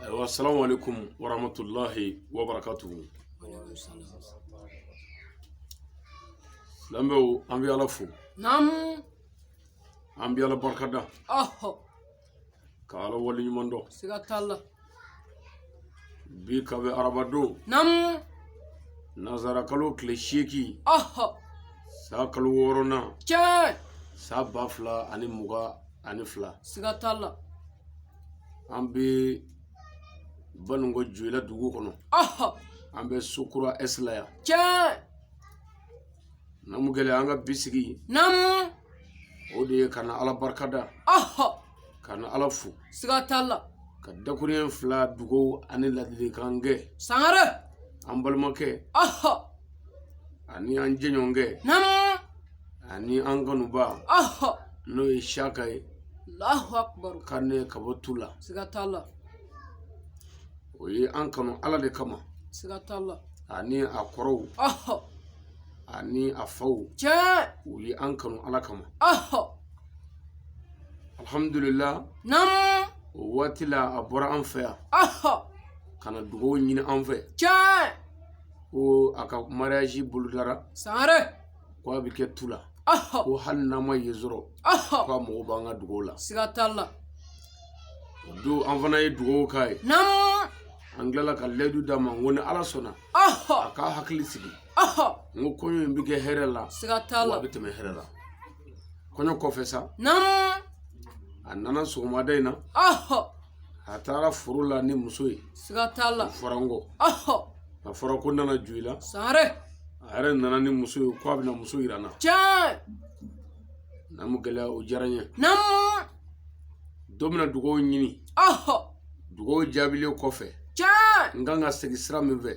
ayiwa salamu aleykum warahmatulahi wabarakatuhu lamɛnw an bɛ ala fo naamu an bɛ ala barika da ɔhɔ ka ala wale ɲuman dɔn siga t'a la bi ka bɛ arabadon naamu nazarakalo tile seegin ɔhɔ san kalo wɔɔrɔnan tiɲɛ san ba fila ani mugan ani fila siga t'a la an bɛ baninkɔ joyila dugu kɔnɔ an bɛ sokura ɛsi la yan tiɲɛ namu gɛlɛ an ka bi sigi namu o de ye ka na ala barika da ka na ala fo siga t'a la ka dakuruɲɛ fila dugaw ani ladilikan kɛ sangare an balimakɛ ani an jɛɲɔgɔnkɛ namu ani an kanuba n'o ye siyaka ye kane ka bɔ tula o ye an kanu ala de kama ani a kɔrɔw ani a faw u ye an kanu ala kama alhamdulillah o waati la a bɔra an fɛ yan ka na dugaw ɲini an fɛ ko a ka mariyaji bolodara ko a bɛ kɛ tula ko hali n'an ma yen sɔrɔ ko a mago b'an ka dugaw la siga t'a la o don an fana ye dugaw k'a ye an tilala ka layidu d'a ma n ko ni ala sɔnna a k'a hakili sigi n ko kɔɲɔ in bɛ kɛ hɛrɛ la siga t'a la a bɛ tɛmɛ hɛrɛ la kɔɲɔ kɔfɛ sa a nana sɔgɔmada in na a taara foro la ni muso ye siga t'a la o fɔra n kɔ a fɔra ko n nana joyila sangare a yɛrɛ nana ni muso ye ko a bɛna muso yira n na tiɲɛ namu gɛlɛya o diyara n ye namu dɔ bɛna dugaw ɲini dugaw jaabilen kɔfɛ tiɲɛ n kan ka segin sira min fɛ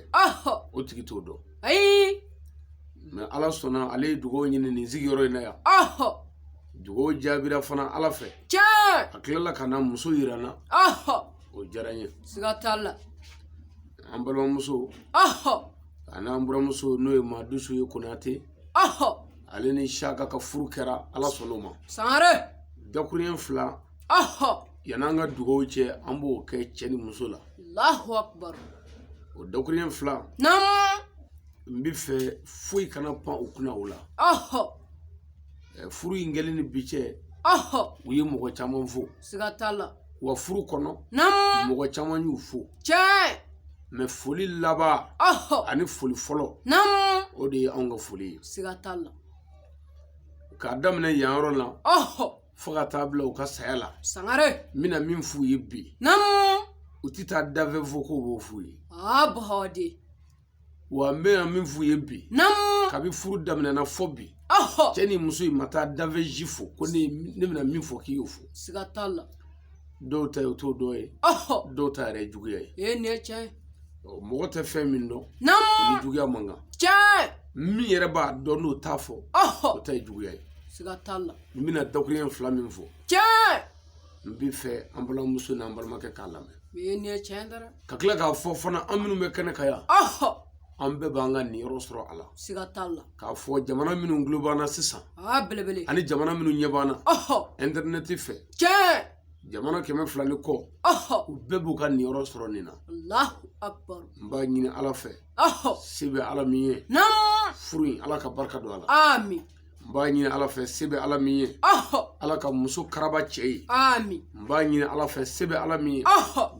o tigi t'o dɔn ayi mɛ ala sɔnna ale ye dugaw ɲini nin sigiyɔrɔ in na yan dugaw jaabira fana ala fɛ tiɲɛ a tilala ka na muso yira n na ɔhɔ o diyara n ye siga t'a la an balimamuso ɔhɔ an'an buramuso n'o ye madusu ye konate ɔhɔ ale ni saka ka furu kɛra ala sɔnn'o ma sangare dakuruɲɛ fila ɔhɔ yan'an ka dugaw cɛ an b'o kɛ cɛ ni muso la alahu akubaru o dakuruɲɛ fila naamu n bɛ fɛ foyi kana pan u kunna o la ɔhɔ furu in kɛlen ni bi cɛ u ye mɔgɔ caman fo siga t'a la wa furu kɔnɔ mɔgɔ caman y'u fo tiɲɛ mais foli laban ani foli fɔlɔ o de ye anw ka foli ye siga t'a la k'a daminɛ yan yɔrɔ la fo ka taa bila u ka saya la sangare n bɛna min f'u ye bi u tɛ taa dafɛn fo k'o b'o f'u ye wa n bɛna min f'u ye bi naamu kabi furu daminɛna fo bi ɔhɔ cɛ ni muso in ma taa dafɛn si fo ko ne bɛna min fɔ k'i y'o fɔ siga t'a la dɔw ta ye o t'o dɔn ye ɔhɔ dɔw ta yɛrɛ ye juguya ye ee nin ye tiɲɛ ye Ɔ, mɔgɔ tɛ fɛn min dɔn o ni naamu juguya man kan tiɲɛ min yɛrɛ b'a dɔn n'o t'a fɔ o ɔhɔ ta ye juguya ye siga t'a la n bɛna dakuruɲɛ fila min fɔ tiɲɛ n b'a fɛ an balimamuso n'an balimakɛ k'a lamɛn ee nin ye tiɲɛ ye dɔrɔn ka tila k'a fɔ fana an minnu bɛ kɛnɛ kan yan an bɛɛ b'an ka niyɔrɔ sɔrɔ a la siga t'a la k'a fɔ jamana minnu tulo b'an na sisan belebele ani jamana minnu ɲɛ b'an na ɛntɛrinɛti fɛ tiɲɛ jamana kɛmɛ fila ni kɔ u bɛɛ b'u ka niyɔrɔ sɔrɔ nin na n b'a ɲini ala fɛ se bɛ ala min ye furu in ala ka barika don a la n b'a ɲini ala fɛ se bɛ ala min ye ala ka muso karaba cɛ ye n b'a ɲini ala fɛ se bɛ ala min ye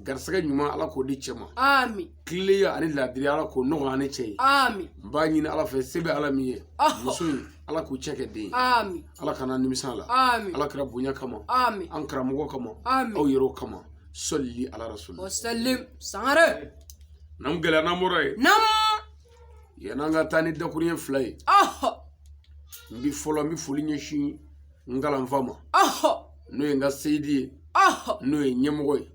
garisɛgɛ ɲuman ala k'o di cɛ ma tilennenya ani laadiriya ala k'o nɔgɔya ani cɛ ye n b'a ɲini ala fɛ se bɛ ala min ye muso in ala k'u cɛ kɛ den ye ala kana nimisa a la ala kira bonya kama an karamɔgɔ kama aw yɛrɛw kama sɔli ala rasul sangare n'an gɛlɛya n'an bɔra yen yann'an ka taa ni dakuruɲɛ fila ye n bi fɔlɔ n bi foli ɲɛsin n kalanfa ma n'o ye n ka seyidi ye n'o ye ɲɛmɔgɔ ye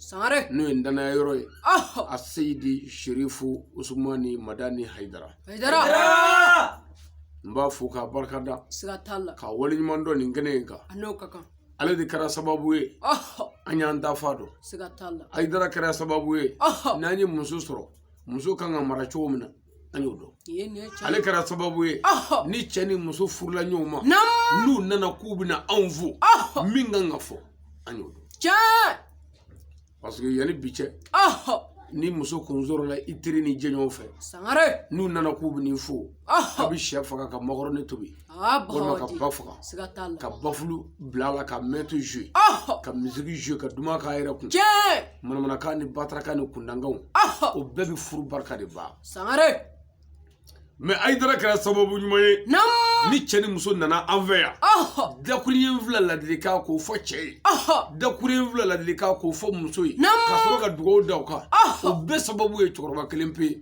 n'o ye n danaya yɔrɔ ye a seyidi sherifu usumani madani hayidara n b'a fo k'a barika da k'a waleɲuman dɔn nin kɛnɛ in kan ale de kɛra sababu ye an y'an dafa dɔn hayidara kɛra sababu ye n'an ye muso sɔrɔ muso kan ka mara cogo min na an y'o dɔn ale kɛra sababu ye ni cɛ ni muso furula ɲɔgɔn ma n'u nana k'u bɛna anw fo min kan ka fɔ an y'o dɔn parce que yanni bi cɛ ni muso kun sɔrɔla i teri n'i jɛɲɔgɔn fɛ n'u nana k'u bɛn'i fo a bɛ shɛ faga ka makɔrɔni tobi walima ka ba faga ka bafulu bila a la ka mɛtu jɔ ka misiki jɔ ka duman k'a yɛrɛ kun manamanakan ni batarakan ni kuntankanw o bɛɛ bɛ furu barika de ban mais hayidara kɛra sababu ɲuman ye ni cɛ ni muso nana an fɛ yan dakuruɲɛ fila laadilikan k'o fɔ cɛ ye dakuruɲɛ fila laadilikan k'o fɔ muso ye ka sɔrɔ ka dugawu da o kan o bɛɛ sababu ye cɛkɔrɔba kelen pe ye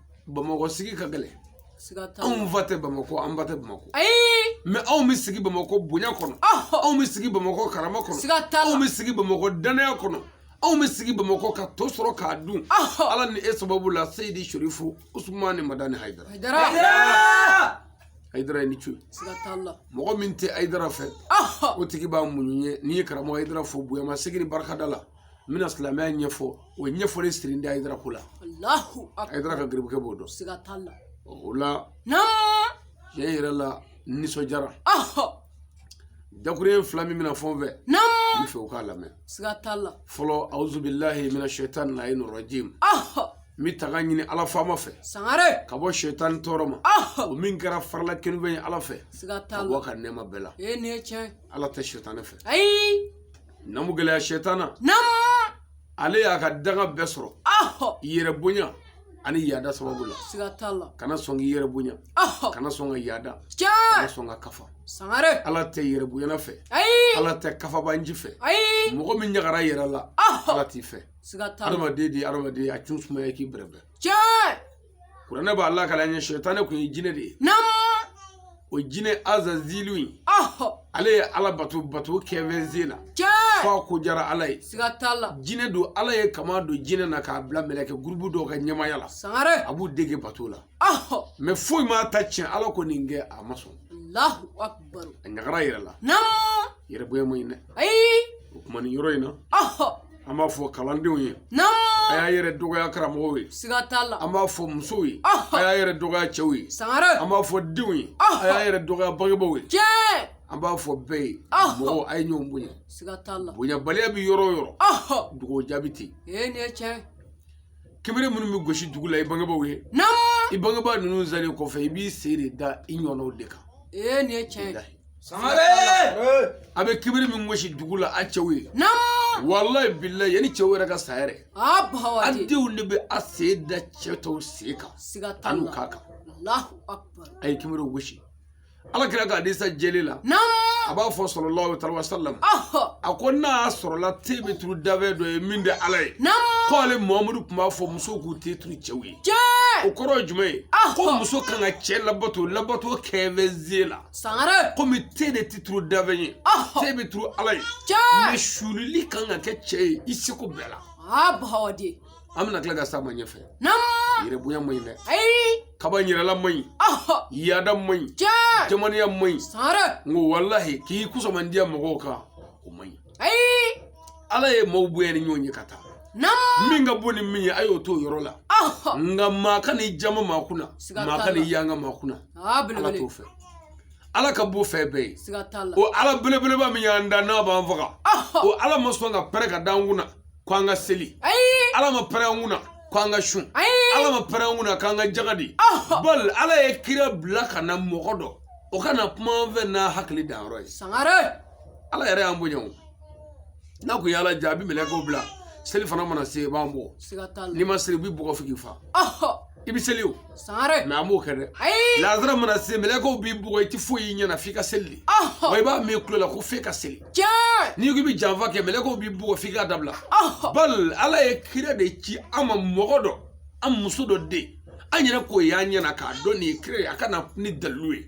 bamakɔ sigi ka gɛlɛn anw fa tɛ bamakɔ an ba tɛ bamakɔ mɛ anw bɛ sigi bamakɔ bonya kɔnɔ anw bɛ sigi bamakɔ karama kɔnɔ anw bɛ sigi bamakɔ danaya kɔnɔ anw bɛ sigi bamakɔ ka to sɔrɔ k'a dun ala ni e sababu la seyidi serifu usumani madani hayidara ayidara i ni ce mɔgɔ min tɛ ayidara fɛ o tigi b'a muɲu ye ne ye karamɔgɔ ayidara fo bonya masegin ni barikada la n bɛna silamɛya ɲɛfɔ o ɲɛfɔli sirilen de ayidara ko la ayidara ka garibukɛ b'o dɔn o la tiɲɛ yɛrɛ la n nisɔndiyara dakuruɲɛ fila min bɛna fɔ n fɛ n b'a fɛ aw k'a lamɛn fɔlɔ awuzubilahi mina shɛtani layini rajimi n bɛ tanga ɲini ala faama fɛ sangare ka bɔ shɛtani tɔɔrɔ ma o min kɛra fara la kerunfɛn ye ala fɛ ka bɔ a ka nɛɛma bɛɛ la ala tɛ shɛtani fɛ namu gɛlɛya sɛtana namu ale y'a ka danga bɛɛ sɔrɔ yɛrɛ bonya ani yaada sababu la siga t'a la kana sɔn k'i yɛrɛ bonya kana sɔn ka yaada kana sɔn ka kafa sangare ala tɛ yɛrɛ bonyana fɛ ayi ala tɛ kafabanji fɛ ayi mɔgɔ min ɲagara yɛrɛ la ala t'i fɛ siga t'a la adamaden de ye adamaden a cun sumaya k'i bɛrɛbɛrɛ tiɲɛ kuranɛ b'a lakali an ye shɛtani kun ye jinɛ de ye o jinɛ azazilu in ale ye ala bato bato kɛfɛnze la fo a ko diyara ala ye jinɛ don ala ye kaman don jinɛ na k'a bila mɛlɛkɛ gurubu dɔ ka ɲɛmaaya la a b'u dege bato la mɛ foyi m'a ta tiɲɛ ala ko nin kɛ a ma sɔn a ɲagara yɛrɛ la yɛrɛ bonya ma ɲi dɛ o kuma nin yɔrɔ in na an b'a fɔ kalandenw ye a y'a yɛrɛ dɔgɔya karamɔgɔw ye siga t'a la an b'a fɔ musow ye a y'a yɛrɛ dɔgɔya cɛw ye sangare an b'a fɔ denw ye a y'a yɛrɛ dɔgɔya bangebaaw ye tiɲɛ an b'a fɔ bɛɛ ye mɔgɔw a ye ɲɔgɔn bonya siga t'a la bonyabaliya bɛ yɔrɔ o yɔrɔ dugawu jaabi tɛ yen ee nin ye tiɲɛ kunbiri minnu bɛ gosi dugu la i bangebaaw ye naamu i bangebaa ninnu salen kɔfɛ i b'i sen de da i ɲɔgɔnnaw de kan ee nin ye tiɲɛ ye sangare a bɛ kunbiri min gosi dugu la a cɛw ye naamu walayi bilayi yanni cɛw yɛrɛ ka sa yɛrɛ a bawa a de denw de bɛ a sen da cɛ tɔw sen kan siga t'a a n'u ka kan alahu akubar a ye kunbiriw gosi ala kira ka hadisa jeli la a b'a fɔ salalahu alayihi wasalam a ko n'a sɔrɔla ten bɛ turu danfɛn dɔ ye min tɛ ala ye k'ale muhamadu tun b'a fɔ musow k'u ten turu cɛw ye o kɔrɔ ye jumɛn ye ko muso ka kan ka cɛ labato labato kɛfɛ zie la komi ten de tɛ turu danfɛn ye ten bɛ turu ala ye mɛ suulili ka kan ka kɛ cɛ ye i seko bɛɛ la an bɛna tila ka s'a ma ɲɛfɛ yɛrɛbonya man ɲi dɛ kabayɛrɛla man ɲi yaada man ɲi jamanaya man ɲi n ko walahi k'i kusamandiya mɔgɔw kan o man ɲi ala ye maaw bonya ni ɲɔgɔn ye ka taa min ka bon ni min ye a y'o to o yɔrɔ la nka maa kan'i jaman maa kunna maa kan'i yanga maa kunna ala t'o fɛ ala ka bon fɛn bɛɛ ye o ala belebeleba min y'an da n'a b'an faga o ala ma sɔn ka pɛrɛn ka d'an kunna ko an ka seli ala ma pɛrɛn an kunna ko an ka sun ala ma pɛrɛn an kunna k'an ka jaga di bal ala ye kira bila ka na mɔgɔ dɔ o ka na kuma an fɛ n'a hakili danyɔrɔ ye sangare ala yɛrɛ y'an bonya o n'a kun y'ala diya a bi mɛlɛkɛw bila selifana mana se u b'an bɔ n'i ma seli u b'i bugɔ f'u k'i faa i bɛ seli o sangare mɛ an b'o kɛ dɛ ayi lazara mana se mɛlɛkɛw b'i bugɔ i tɛ foyi y'i ɲɛna f'i ka seli de ɔhɔ wa i b'a mɛn i tulo la ko f'e ka seli tiɲɛ n'i ko i bɛ janfa kɛ mɛlɛkɛw b'i bugɔ f'i k'a dabila ɔhɔ bal ala ye kira de ci an ma mɔgɔ dɔ an muso dɔ den an ɲɛna k'o y'an ɲɛna k'a dɔn nin ye kira ye a ka na ni dalilu ye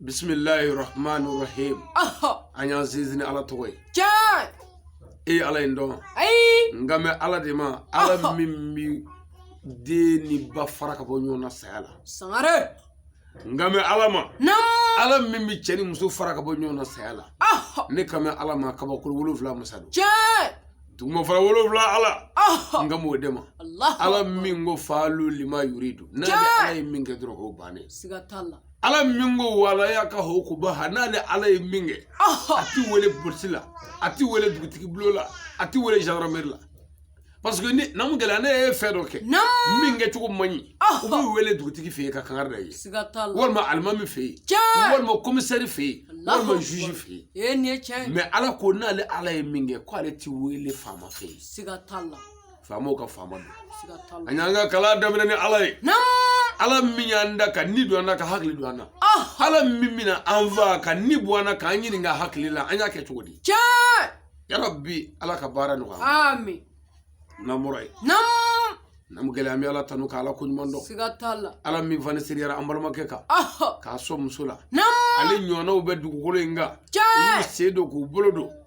bisimilahi rahmani rahim an y'an sinsin ni ala tɔgɔ ye tiɲɛ e ye ala in dɔn ayi n kan bɛ ala de ma ala min bi den ni ba fara ka bɔ ɲɔgɔn na saya la sangare n kan bɛ ala ma naamu ala min bi cɛ ni muso fara ka bɔ ɲɔgɔn na saya la ne kan bɛ ala ma kabakolo wolonfila masa don tiɲɛ duguma fara wolonfila ala n kan b'o de ma ala min ko faalu lima yuridu n'ale ala ye min kɛ dɔrɔn o bannen siga t'a la ala min ko wala yakafu ukubaha n'ale ala ye min kɛ a ti wele polisi la a ti wele dugutigi bulon la a ti wele gendarmerie la parce que ni namu gɛlɛ n'e ye fɛn dɔ kɛ min kɛ cogo man ɲi u b'i wele dugutigi fɛ yen ka kangari da i ye walima alimami fɛ yen walima commissaire fɛ yen walima juge fɛ yen mais ala ko n'ale ala ye min kɛ k'ale ti wele faama fɛ yen faamaw ka faama don an y'an ka kalan daminɛ ni ala ye ala min y'an da ka ni don an na ka hakili don an na ala min bina an faa ka ni bɔ an na k'an ɲininka hakili la an y'a kɛ cogo di ya rabi ala ka baara nɔgɔya amin n'an bɔra yen namu gɛlɛ an bɛ ala tanu ka ala ko ɲuman dɔn siga t'a la ala min fana seriyara an balimakɛ kan k'a sɔn muso la ale ɲɔgɔnnaw bɛ dugukolo in kan u y'u sen don k'u bolo don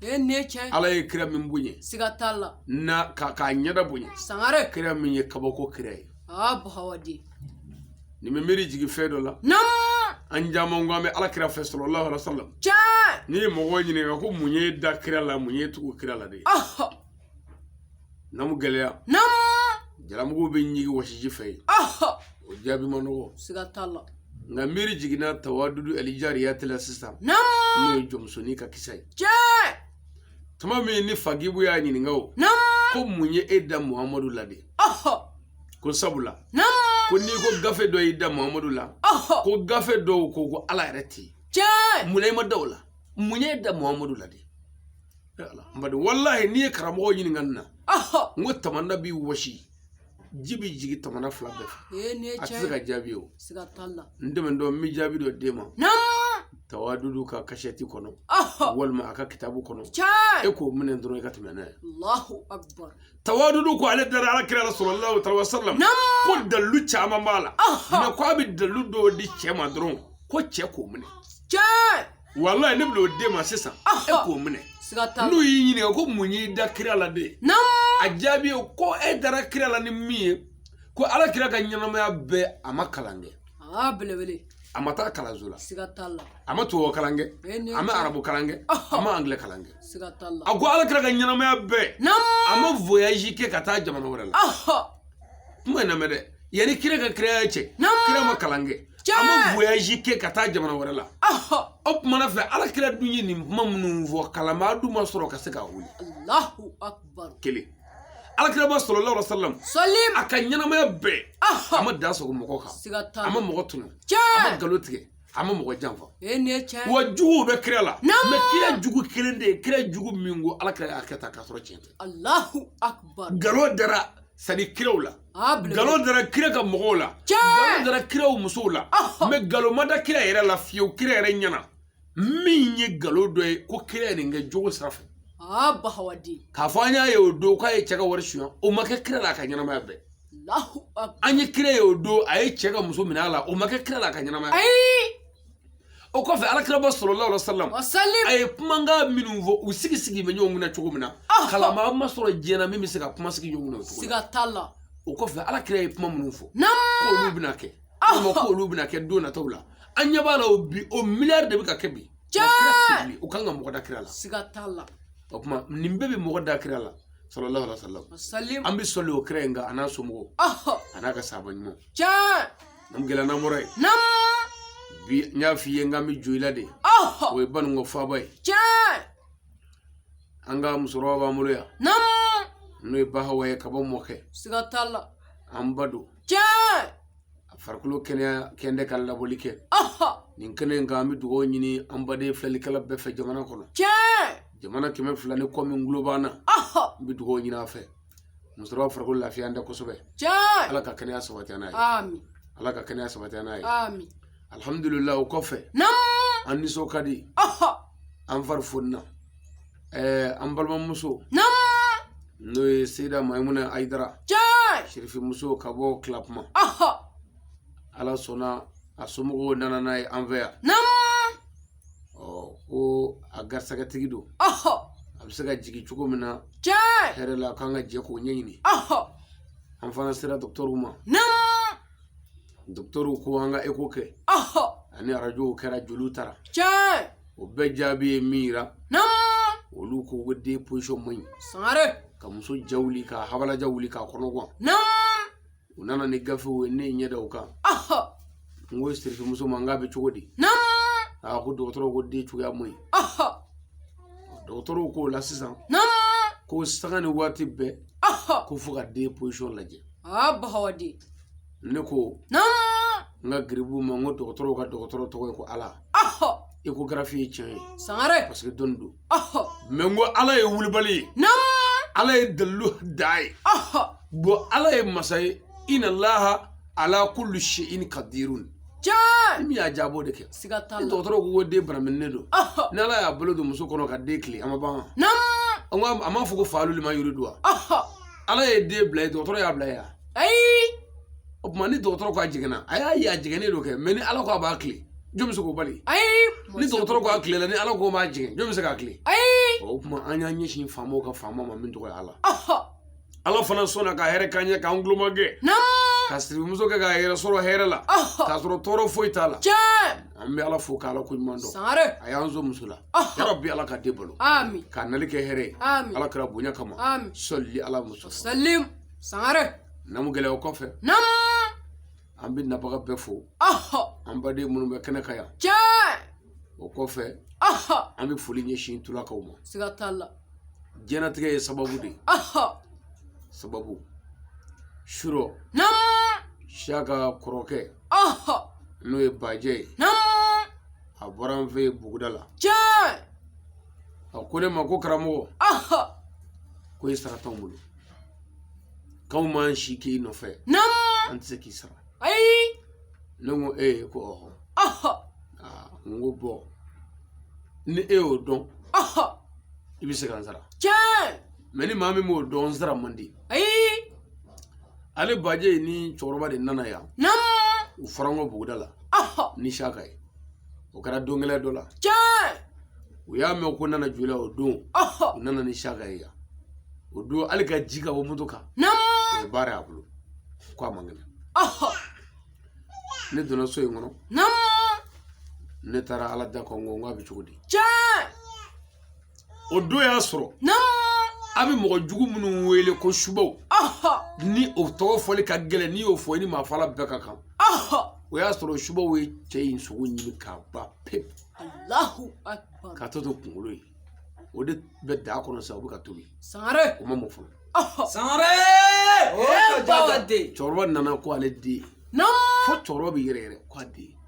e ye ne cɛ ala ye kira min bonya siga t'a la ani k'a ɲɛda bonya sangare kira min ye kabako kira ye aa ba hawa den nin bɛ miiri jigin fɛn dɔ la naamu an caman ko an bɛ ala kira fɛ salalahu alaihi wa sallam cɛ n'i ye mɔgɔw ɲininka ko mun y'i da kira la mun y'i tugu kira la de ye namu gɛlɛya namu jalamugu bɛ ɲigi wɔsiji fɛ yen o jaabi ma nɔgɔ siga t'a la nka miiri jiginna tawadudu alijariya ta la sisan namu n'o ye jɔnmusonin ka kisa ye tiɲɛ tuma min ni fagibu y'a ɲininka o namu ko mun ye e da muhamadu la de ko sabula namu ko n'i ko gafe dɔ y'i da muhamadu la ko gafe dɔw ko ko ala yɛrɛ tɛ yen tiɲɛ mun na i ma da o la mun ye e da muhamadu la de bari walahi n'i ye karamɔgɔ ɲininka nin na n ko tamana bɛ wɔsi ji bɛ jigin tamana fila bɛɛ fɛ a tɛ se ka jaabi o n dɛmɛ dɔn n bɛ jaabi dɔ d'e ma tawadudu ka kasɛti kɔnɔ walima a ka kitabu kɔnɔ e k'o minɛ dɔrɔn i ka tɛmɛ n'a ye tawadudu ko ale dara ala kira la sallallahu alaihi wasallam ko dalilu caman b'a la mɛ ko a bɛ dalilu dɔ di cɛ ma dɔrɔn ko cɛ k'o minɛ walayi ne bɛn'o d'e ma sisan e k'o minɛ n'u y'i ɲininka ko mun y'i da kira la de a jaabi ye ko e dara kira la ni min ye ko ala kira ka ɲɛnamaya bɛɛ a ma kalan kɛ a ma taa kalanso la a ma tubabu kalan kɛ a ma arabu kalan kɛ a ma angilɛ kalan kɛ a ko ala kira ka ɲɛnamaya bɛɛ a ma voyazi kɛ ka taa jamana wɛrɛ la tuma n lamɛn dɛ yanni kira ka kiraya cɛ kira ma kalan kɛ a ma voyage kɛ ka taa jamana wɛrɛ la o tuma na fɛ ala kira dun ye nin kuma minnu fɔ kalanbaa dun ma sɔrɔ ka se k'a wuli kelen ala kiraba sallallahu alaihi wasallam sallim a ka ɲɛnamaya bɛɛ a ma da sɔgɔ mɔgɔ kan a ma mɔgɔ tɔɲɔ a ma nkalon tigɛ a ma mɔgɔ janfa wa juguw bɛ kira la mɛ kira jugu kelen tɛ yen kira jugu min ko ala kira y'a kɛ ta k'a sɔrɔ tiɲɛ tɛ nkalon dara sani kiraw la nkalon dara kira ka mɔgɔw la nkalon dara kira musow la mɛ nkalon ma da kira yɛrɛ la fiyewu kira yɛrɛ ɲɛna min ye nkalon dɔ ye ko kira ye nin kɛ jogo sira fɛ k'a fɔ an y'a ye o don k'a ye cɛ ka wari suɲɛ o ma kɛ kira la a ka ɲɛnamaya bɛɛ an ye kira ye o don a ye cɛ ka muso minɛ a la o ma kɛ kira la a ka ɲɛnamaya o kɔfɛ ala kiraba sallallahu alaihi wasallam a ye kumakan minnu fɔ u sigi sigi bɛ ɲɔgɔn kunna cogo min na kalanbaa ma sɔrɔ diɲɛ na min bɛ se ka kuma sigi ɲɔgɔn kunna o cogo siga t'a la o kɔfɛ ala kira ye kuma minnu fɔ k'olu bɛna kɛ walima k'olu bɛna kɛ don nataw la an ɲɛ b'a la o bi o miliyari de bɛ ka kɛ bi o kan ka mɔgɔ da kira la siga t'a la o tuma nin bɛɛ bɛ mɔgɔ da kira la sallallahu alaihi wasallam sallim an bi sɔli o kira in kan a n'a somɔgɔw a n'a ka sahaba ɲumanw tiɲɛ n'an gɛlɛ n'an bɔra yen nam bi n y'a f'i ye n k'an bɛ jo i la de o ye baninko faaba ye tiɲɛ an ka musokɔrɔba b'an bolo yan nam n'o ye bahawa ye ka bɔ mɔkɛ siga t'a la an ba don tiɲɛ a farikolo kɛnɛya kɛndɛ ka labɔli kɛ nin kɛnɛ in kan an bɛ dugawu ɲini an baden filɛlikɛla bɛɛ fɛ jamana kɔnɔ tiɲɛ jamana kɛmɛ fila ni kɔ min tulo b'an na n bɛ dugawu ɲini a fɛ musokɔrɔba farikolo lafiyanen tɛ kosɛbɛ ala ka kɛnɛya sabati n'a ye ala ka kɛnɛya sabati n'a ye alihamudulila o kɔfɛ an nisɔn ka di an fari fonina ɛɛ an balimamuso n'o ye seyida mayimuna ayidara sirifimuso ka bɔ tilakuma ala sɔnna a somɔgɔw nana n'a ye an fɛ yan ko a garisɛgɛtigi don a bɛ se ka jigin cogo min na hɛrɛ la k'an ka jɛ k'o ɲɛɲini an fana sera dɔgɔtɔrɔw ma dɔgɔtɔrɔw ko an ka eko kɛ ani arajow kɛra joliw taara o bɛɛ jaabi ye min yira olu ko ko den pozisɔn man ɲi ka muso ja wuli ka habala ja wuli k'a kɔnɔ gan u nana ni gafew ye ne ye ɲɛ da u kan n ko sirifimuso ma n k'a bɛ cogo di a ko dɔgɔtɔrɔw ko den cogoya man ɲi dɔgɔtɔrɔw k'o la sisan ko sanga ni waati bɛɛ ko fo ka den pozisiyɔn lajɛ ne ko n ka garibu ma n ko dɔgɔtɔrɔw ka dɔgɔtɔrɔ tɔgɔ ye ko ala ekogarafi ye tiɲɛ ye sangare parce que dɔnni don ɔhɔ mɛ n ko ala ye wulibali ye nam ala ye dalilu dan ye ɔhɔ bɔn ala ye masa ye ina laha ala kulli shay'in kadirun tiɲɛ min y'a jabɔ de kɛ siga t'a la dɔgɔtɔrɔ ko ko den baraminen don ɔhɔ ni ala y'a bolo don muso kɔnɔ ka den tilen a ma ban wa? nam an ko a m'a fɔ ko faaluli ma yiri don wa ɔhɔ ala ye den bila yen dɔgɔtɔrɔ y'a bila yen wa? ayi o tuma ni dɔgɔtɔrɔ ko a jɛngɛnna a y'a ye a jɛngɛnnen don kɛ mɛ ni ala ko a b'a kile jɔn bɛ se k'o bali ayi ni dɔgɔtɔrɔ ko a kilela ni ala ko b'a jɛngɛn jɔn bɛ se k'a kile ayi o tuma an y'an ɲɛsin faamaw ka faama ma min tɔgɔ ye ala ala fana sɔnna ka hɛrɛ k'an ɲɛ k'an tuloma gɛn ka sirifimuso kɛ k'a yɛrɛ sɔrɔ hɛrɛ la k'a sɔrɔ tɔɔrɔ foyi t'a la an bɛ ala fo k'ala ko ɲuman dɔn sangare a y'an sɔn muso la ya rabi ala ka den balo k'a nali kɛ hɛrɛ ye ala kira bonya kama salli ala muso salim sangare namu gɛlɛya o kɔfɛ namu an bɛ nabaga bɛɛ fo ɔhɔ an baden minnu bɛ kɛnɛ kan yan tiɲɛ o kɔfɛ ɔhɔ an bɛ foli ɲɛsin tulakaw ma siga t'a la diɲɛnatigɛ ye sababu de ye ɔhɔ sababu surɔ namu siyaka kɔrɔkɛ ɔhɔ n'o ye bajɛ ye namu a bɔra an fɛ yen buguda la tiɲɛ a ko ne ma ko karamɔgɔ ɔhɔ ko i sara t'anw bolo k'anw man si k'i nɔfɛ an tɛ se k'i sara ayi ne ko e ye ko ɔhɔn n ko bɔ ni e y'o dɔn i bɛ se ka n sara tiɲɛ mɛ ni maa min m'o dɔn n sara man di ayi ale baje ni cɛkɔrɔba de nana yan u fara n kan buguda la ni saga ye o kɛra don kelen dɔ la tiɲɛ u y'a mɛn ko nana joli o don u nana ni saka ye yan o don hali ka jigin ka bɔ moto kan o baara y'a bolo ko a man kɛnɛ ne donna so in kɔnɔ ne taara ala da kɔnkɔn k'a bɛ cogo di tiɲɛ o don y'a sɔrɔ a bɛ mɔgɔ jugu minnu wele ko subaw ni o tɔgɔ fɔli ka gɛlɛn n'i y'o fɔ i ni maa fagala bɛɛ ka kan o y'a sɔrɔ subaw ye cɛ in sogo ɲimi k'a ban pewu k'a tɔ to kunkolo ye o de bɛ daga kɔnɔ sisan o bɛ ka tobi sangare o ma mɔ fɔlɔ sangare cɛkɔrɔba nana ko ale den fo cɛkɔrɔba bɛ yɛrɛyɛrɛ ko a den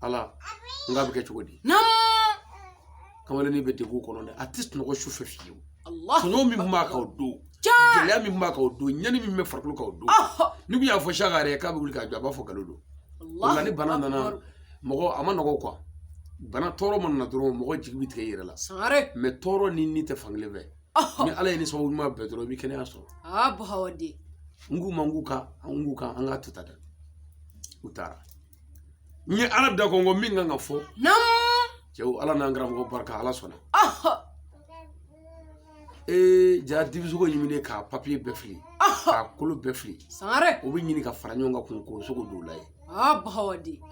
ala n k'a bɛ kɛ cogo di kamalennin bɛ degun kɔnɔ dɛ a tɛ sunɔgɔ su fɛ fiyewu tɔɲɔ min tun b'a kan o don gɛlɛya min tun b'a kan o don ɲani min bɛ farikolo kan o don n'i tun y'a fɔ saka yɛrɛ k'a bɛ wuli k'a jɔ a b'a fɔ nkalon don o la ni bana nana mɔgɔ a man nɔgɔ kuwa bana tɔɔrɔ ma nana dɔrɔn mɔgɔ jigi bɛ tigɛ i yɛrɛ la mɛ tɔɔrɔ ni ni tɛ fan kelen fɛ ni ala y'i ni sababu ɲuman bɛn dɔrɔn i bɛ kɛnɛya sɔrɔ n k'u ma n k'u ka n k'u ka an k'a to tan dɛ u taara n ye ala da kɔnkɔn min kɛ n k'a fɔ cɛw ala n'an karamɔgɔ barika ala sɔnna ee jara dibisogo ɲiminen k'a papiye bɛɛ fili k'a kolo bɛɛ fili o bɛ ɲini ka fara ɲɔgɔn kan kun k'o sogo don la ye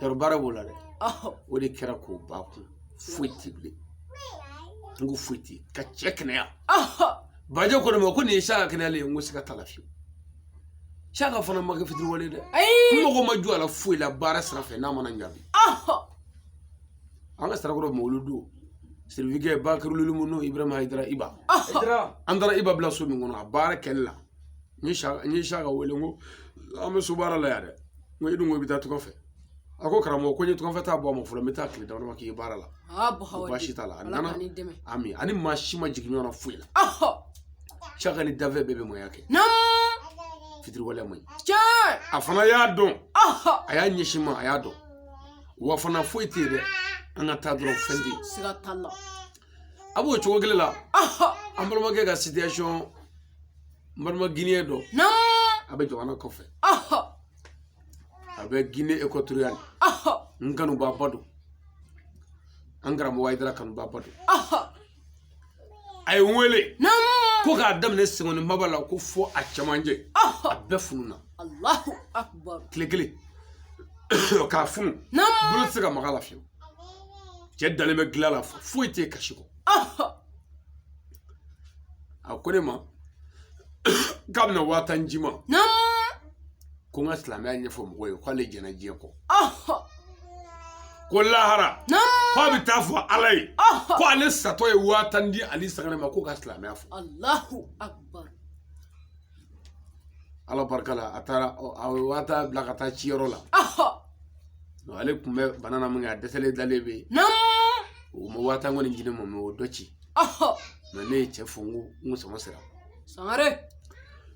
yɔrɔ baara b'o la dɛ o de kɛra koba kun foyi ti bilen n ko foyi ti ka cɛ kɛnɛya bajɛ ko ne ma ko nin ye saka kɛnɛyalen ye n ko siga t'a la fiyewu saka fana ma kɛ fitiriwale dɛ n mago ma jɔ a la foyi la baara sira fɛ n'a ma na n jaabi an ka sirakɔrɔ mawuludu sirifikɛ bakirulu mu n'o ibrahima ayidara iba an taara iba bila so min kɔnɔ a baara kɛli la n ye saka wele n ko an bɛ so baara la yan dɛ n ko i dun ko i bɛ taa tunga fɛ a ko karamɔgɔ ko n ye tunga fɛ taa bɔ a ma fɔlɔ n bɛ taa tile damadɔ k'i ye baara la ko baasi t'a la a nana ami ani maa si ma jigin ɲɔgɔn na foyi la saka ni dafɛ bɛɛ bɛ mɔya kɛ fitiriwale man ɲi a fana y'a dɔn a y'a ɲɛsin ma a y'a dɔn wa fana foyi tɛ yen dɛ an ka taa dɔrɔn fɛn tɛ yen a b'o cogo kelen la an balimakɛ ka situation n balima guinéen dɔ a bɛ jamana kɔfɛ a bɛ gine ekɔtoriyali n kanubaaba don an karamɔgɔ ayidara kanubaaba don a ye n wele ko k'a daminɛ senkɔni maba la ko fɔ a cɛmancɛ a bɛɛ fununa tile kelen k'a funu bolo tɛ se ka maga la fiyewu cɛ dalen bɛ dilan la foyi tɛ kasi kɔ a ko ne ma k'a bɛna waa tan di n ma ko n ka silamɛya ɲɛfɔ mɔgɔw ye k'ale jɛnna diɲɛ kɔ ko lahara ko a bɛ taa fɔ ala ye ko ale satɔ ye waa tan di ale sangare ma ko ka silamɛya fɔ ala barika la a taara a ye waa tan bila ka taa ci yɔrɔ la ale tun bɛ bana na min kɛ a dɛsɛlen dalen bɛ yen o ma waa tan kɔni di ne ma mɛ o dɔ ci mɛ ne ye cɛ fo n ko n ko sama sera sangare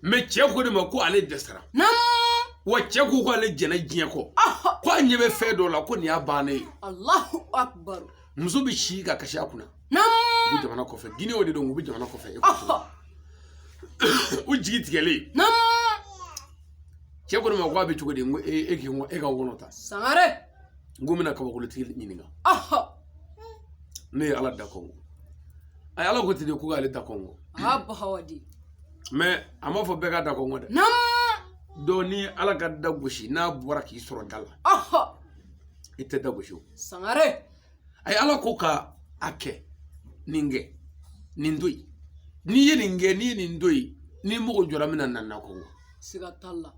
mɛ cɛ ko ne ma ko ale dɛsɛra wa cɛ ko k'ale jɛnna diɲɛ kɔ ko a ɲɛ bɛ fɛn dɔ la ko nin y'a bannen ye muso bɛ si ka kasi a kunna u bɛ jamana kɔfɛ gine o de don u bɛ jamana kɔfɛ e u jigi tigɛlen cɛ ko ne ma ko a bɛ cogo di n ko e k'i ko e ka wɔlɔ ta sangare n ko n bɛna kabakolotigi ɲininka ne ye ala da kɔnkɔn a ye ala ko ten de ko k'ale da kɔnkɔn mɛ a m'a fɔ bɛɛ ka da kɔnkɔn dɛ dɔ ni ala ka da gosi n'a bɔra k'i sɔrɔ da la i tɛ da gosi o sangare a ye ala ko ka a kɛ nin kɛ nin to yen n'i ye nin kɛ n'i ye nin to yen n'i mago jɔra min na na da kɔnkɔn siga t'a la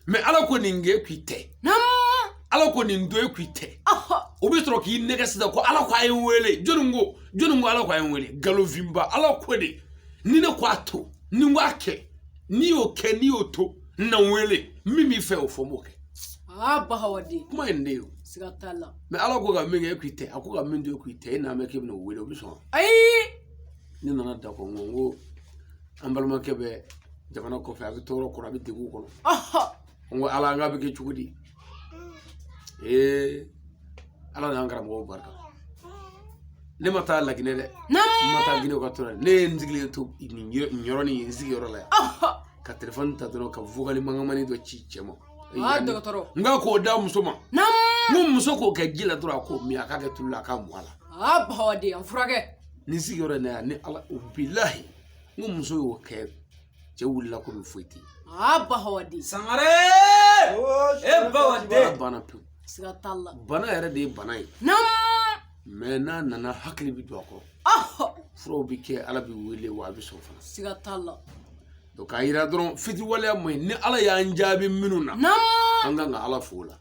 mɛ ala ko nin kɛ k'i tɛ ala ko nin to yen k'i tɛ o bɛ sɔrɔ k'i nɛgɛn sisan ko ala ko a ye n wele jɔnni ko jɔnni ko ala ko a ye n wele nkalonfinba ala ko de ni ne ko a to ni n ko a kɛ n'i y'o kɛ n'i y'o to na n wele min b'i fɛ o fɔ n b'o kɛ aa bahawaden kuma ye nin de ye o siga t'a la mɛ ala ko ka min kɛ e k'i tɛ a ko ka min to e k'i tɛ e n'a mɛn k'e bɛna o wele o bɛ sɔn ayi ne nana da kɔnkɔn n ko an balimakɛ bɛ jamana kɔfɛ a bɛ tɔɔrɔ kɔrɔ a bɛ degun kɔnɔ ɔhɔ n ko ala an k'a bɛ kɛ cogo di ee ala n'an karamɔgɔw barika ne ma taa laginɛ dɛ n ma taa ginɛ ka to la ne ye n sigilen to nin yɔrɔ nin ye n sigiyɔrɔ la yan ɔhɔ ka telefɔni ta dɔrɔn ka vocal mankanmani dɔ ci cɛ ma Aa dɔgɔtɔrɔ n ka k'o da muso ma naamu ni muso k'o kɛ ji la dɔrɔn a k'o min a k'a kɛ tulu la a k'a mu a la aa bahawaden a furakɛ ni sigiyɔrɔ in na yan ni ala o bilahi n ko muso y'o kɛ cɛ wulila komi foyi tɛ yen aa bahawaden sangare e bahawaden banna pewu siga t'a la bana yɛrɛ de ye bana ye naamu mɛ n'a nana hakili bɛ don a kɔrɔ ɔhɔ furaw bɛ kɛ ala bɛ wele wa a bɛ sɔn fana siga t'a la donc k'a yira dɔrɔn fitiwaleya man ɲi ni ala y'an jaabi minnu na an ka kan ka ala fo la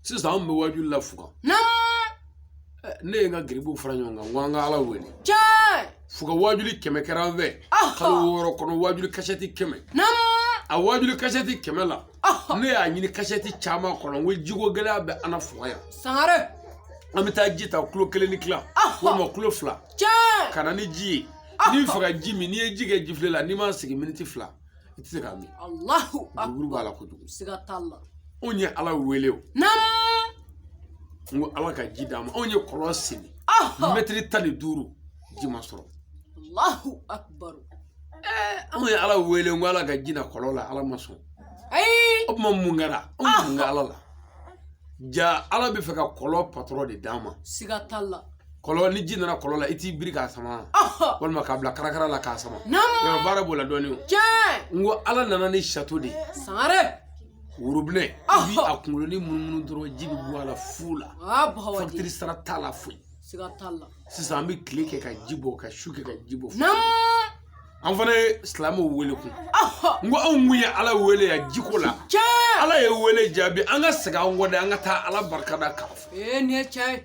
sisan anw bɛ wajuw la fuga eh, ne ye n ka gurupuw fara ɲɔgɔn kan n ko an ka ala wele fuga wajuli kɛmɛ kɛra an fɛ kalo wɔɔrɔ kɔnɔ wajuli kasɛti kɛmɛ a wajuli kasɛti kɛmɛ la ne y'a ɲini kasɛti caman kɔnɔ n ko jiko gɛlɛya bɛ an na fuga yan sangare an bɛ taa ji ta kilo kelen ni tila walima kilo fila ka na ni ji ye n'i bɛ fɛ ka ji min n'i ye ji kɛ jifilen la n'i m'a sigi miniti fila i tɛ se k'a min alahu buruburu b'a la kojugu siga t'a la anw ye ala wele o naamu n ko ala ka ji d'an ma anw ye kɔlɔn sen mɛtiri tan ni duuru ji ma sɔrɔ alahu akubaru anw ye ala wele n ko ala ka ji na kɔlɔn la ala ma sɔn ayi o tuma mun kɛra anw mun kɛ ala la ja ala bɛ fɛ ka kɔlɔn patɔrɔn de d'an ma siga t'a la kɔlɔn ni ji nana kɔlɔn la i t'i biri k'a sama walima k'a bila karakara la k'a sama yɔrɔ baara b'o la dɔɔni o n ko ala nana ni sato de ye sangare worobinɛ i b'a kunkolonin munumunu dɔrɔn ji bɛ bɔ a la fu la fakitiri sara t'a la foyi sisan an bɛ tile kɛ ka ji bɔ ka su kɛ ka ji bɔ an fana ye silamɛw wele kun n ko anw kun ye ala wele yan jiko la ala ye wele jaabi an ka segin an kɔ dɛ an ka taa ala barika da k'a fɔ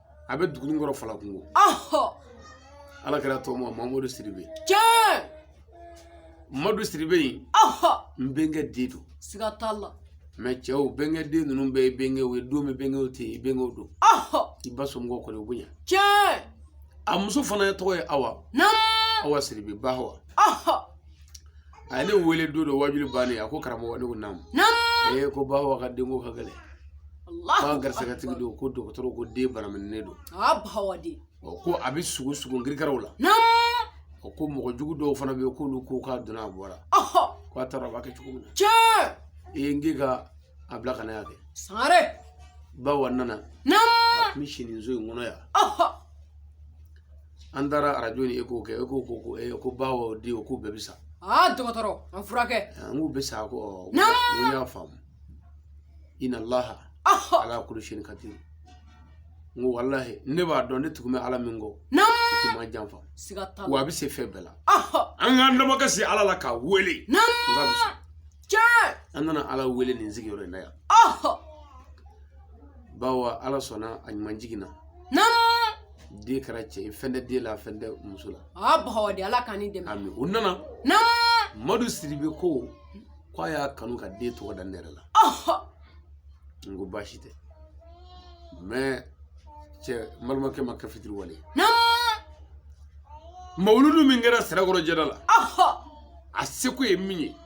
a bɛ duguninkɔrɔ fala kungo ala kira tɔgɔma mamadu sidibe tiɲɛ mamadu sidibe in n bɛnkɛ den don siga t'a la mɛ cɛw bɛnkɛ den ninnu bɛɛ ye bɛnkɛw ye don bɛ bɛnkɛw tɛ yen bɛnkɛw don i ba somɔgɔw kɔni u bonya tiɲɛ a muso fana ye tɔgɔ ye awa awa sidibe bawa a ye ne wele don dɔ wajuli bannen a ko karamɔgɔ ne ko naamu naamu ee ko bawa ka denko ka gɛlɛn k'a garisigɛtigi don ko dɔgɔtɔrɔ ko den banamininen don a bawa de ko a bɛ sugu sugu nkirikaraw la naamu ko mɔgɔ jugu dɔw fana bɛ yen k'olu ko k'a donna a bɔra ko a taara a b'a kɛ cogo min na tiɲɛ ee n k'i ka a bila ka na yan kɛ sangare bawa nana naamu a tun bɛ si nin so in kɔnɔ yan an taara arajo ni eko kɛ e ko ko ko e ko ba o den o ko bɛɛ bɛ sa aa dɔgɔtɔrɔ an furakɛ n k'u bɛ sa ko n y'a faamu ina laha ala kuli sayin kadiru n ko walahi ne b'a dɔn ne tugulen bɛ ala min kɔ tɛ maa janfa wa a bɛ se fɛn bɛɛ la an k'an damakasi ala la k'a wele tiɲɛ an nana ala wele nin sigiyɔrɔ in na yan bawo ala sɔnna a ɲuman jiginna den kɛra cɛ ye fɛn tɛ den la fɛn tɛ muso la aa bawo de ala k'an ni dɛmɛ ami o nana madu sidibe ko k'a y'a kanu ka den tɔgɔ da ne yɛrɛ la n ko baasi tɛ mɛ cɛ n balimakɛ ma kɛ fitiriwale ye mawuludu min kɛra sirakɔrɔ jɛda la a seko ye min ye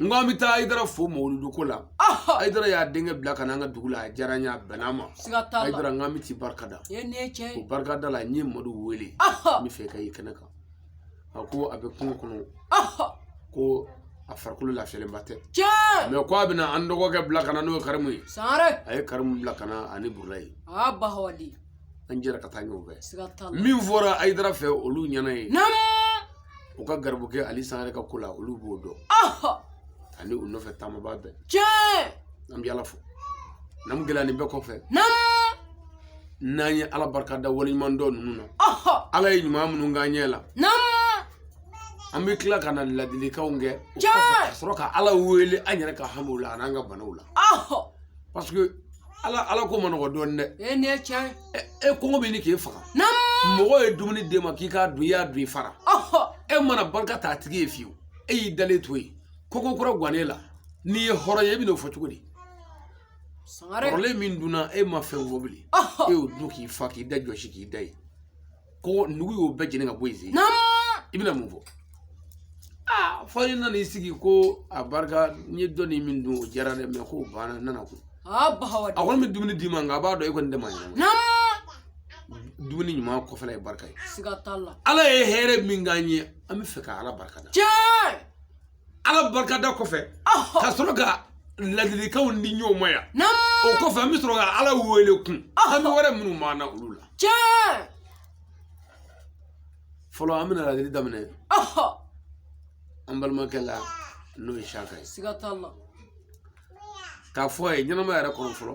n ko an bɛ taa ayidara fo mawuludu ko la ayidara y'a denkɛ bila ka na an ka dugu la a diyara n ye a bɛnna n ma ayidara n k'an bɛ t'i barika da o barikada la n ye madu wele n bɛ fɛ k'a ye kɛnɛ kan a ko a bɛ kungo kɔnɔ ko a farikolo lafiyalenba tɛ mɛ ko a bɛna an dɔgɔkɛ bila ka na n'o ye karimu ye a ye karimu bila ka na ani burulayi an jɛra ka taa ɲɔgɔn fɛ min fɔra ayidara fɛ olu ɲɛ na yen u ka garibukɛ ali sangare ka ko la olu b'o dɔn ani u nɔfɛ taamaba bɛɛ tiɲɛ an bɛ ala fo n'an gɛlɛya nin bɛɛ kɔfɛ n'an ye ala barika da waleɲuman dɔ ninnu na ala ye ɲuman minnu k'an ɲɛ la an bɛ tila ka na ladilikanw kɛ ka sɔrɔ ka ala wele an yɛrɛ ka hamiw la an'an ka banaw la parce que ala ala ko man nɔgɔ dɔɔnin dɛ e kɔngɔ bɛ ɲini k'e faga mɔgɔ ye dumuni d'e ma k'i k'a dun i y'a dun i fara e ma na barika da a tigi ye fiyewu e y'i dalen to yen ko ko kura gan e la n'i ye hɔrɔn ye e bɛn'o fɔ cogo di kɔrɔlen min dunna e ma fɛn fɔ bilen e y'o dun k'i fa k'i da jɔsi k'i da yen ko nugu y'o bɛɛ jeni ka bɔ yen i bɛna mun fɔ aa fo i nana i sigi ko a barika n ye dɔɔnin min dun o diyara dɛ mɛ k'o banna n nana ko a kɔni bɛ dumuni d'i ma nka a b'a dɔn e kɔni dama ɲɛna dumuni ɲuman kɔfɛla ye barika ye ala ye hɛrɛ min k'an ye an bɛ fɛ ka ala barika da ala barikada kɔfɛ ka sɔrɔ ka ladilikanw di ɲɔgɔn ma yan o kɔfɛ an bɛ sɔrɔ ka ala wele kun hami wɛrɛ minnu b'an na olu la fɔlɔ an bɛna ladili daminɛ an balimakɛ la n'o ye saka ye k'a fɔ a ye ɲɛnama yɛrɛ kɔnɔ fɔlɔ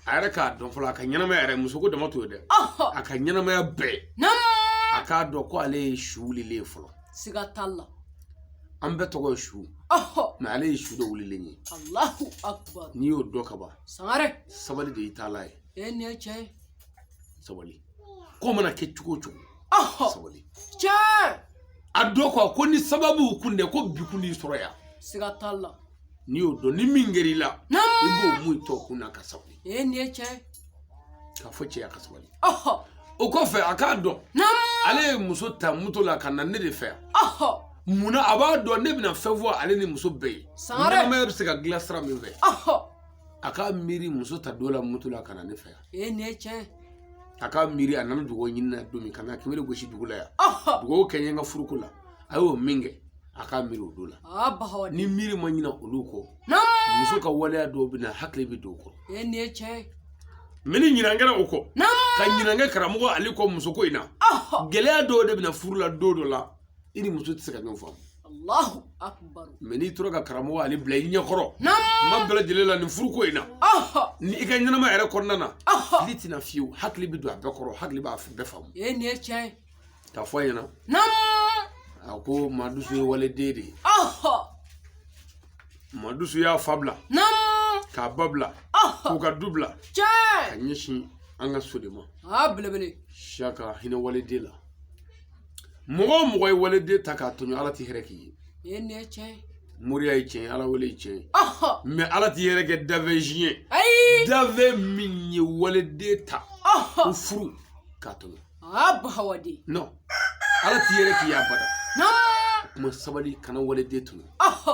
a yɛrɛ k'a dɔn fɔlɔ a ka ɲɛnamaya yɛrɛ muso ko dama t'o ye dɛ a ka ɲɛnamaya bɛɛ a k'a dɔn ko ale ye su wulilen ye fɔlɔ siga t'a la an bɛɛ tɔgɔ ye su mɛ ale ye su dɔ wulilen ye n'i y'o dɔn ka ban sabali de y'i taala ye sabali ko mana kɛ cogo o cogo sabali tiɲɛ a dɔn ko ko ni sababu kun dɛ ko bi kun y'i sɔrɔ yan siga t'a la n'i y'o dɔn ni min kɛr'i la i b'o mun tɔ kun na ka sabali ee nin ye tiɲɛ k'a fɔ cɛ ye a ka sabali o kɔfɛ a k'a dɔn ale ye muso ta moto la ka na ne de fɛ yan munna a b'a dɔn ne bɛna fɛn fɔ ale ni muso bɛɛ ye ɲɛnamaya bɛ se ka dilan sira min fɛ a k'a miiri muso ta don la moto la ka na ne fɛ yan ee nin ye tiɲɛ a ka miiri a nana dugawu ɲini na don min ka na kunbere gosi dugu la yan dugawu kɛ n ye n ka furuko la a y'o min kɛ a k'a miiri o don la n'i miiri ma ɲina olu kɔ muso ka waleya dɔw bɛ na hakili bɛ don o kɔrɔ ee nin ye tiɲɛ ye mɛ ni ɲinan kɛra o kɔ ka ɲinan kɛ karamɔgɔ ale kɔ musoko in na gɛlɛya dɔw de bɛ na furu la don dɔ la i ni muso tɛ se ka ɲɔgɔn faamu Allahu akbar mɛ n'i tora ka karamɔgɔ ale bila i ɲɛkɔrɔ kuma bɛɛ lajɛlen la nin furuko in na ni i ka ɲɛnama yɛrɛ kɔnɔna na fili tɛna fiyewu hakili bɛ don a bɛɛ kɔrɔ hakili b'a bɛɛ faamu ee nin ye tiɲɛ ye k'a fɔ a ɲɛna a ko Madusu ye waliden de ye Madusu y'a fa bila k'a ba bila k'u ka du bila ka ɲɛsin an ka so de ma saka hinɛ waliden la mɔgɔ o mɔgɔ ye waliden ta k'a tɔɲɔ ala ti hɛrɛ k'i ye nin ye nin ye tiɲɛ ye moriya ye tiɲɛ ye ala wele ye tiɲɛ ye ɔhɔ mɛ ala ti hɛrɛ kɛ dafɛn si ye ayi dafɛn min ye waliden ta ɔhɔ ko furu k'a tɔɲɔ a bahawaden non ala ti hɛrɛ k'i ye abada naa kuma sabali kana waliden tɔɲɔ ɔhɔ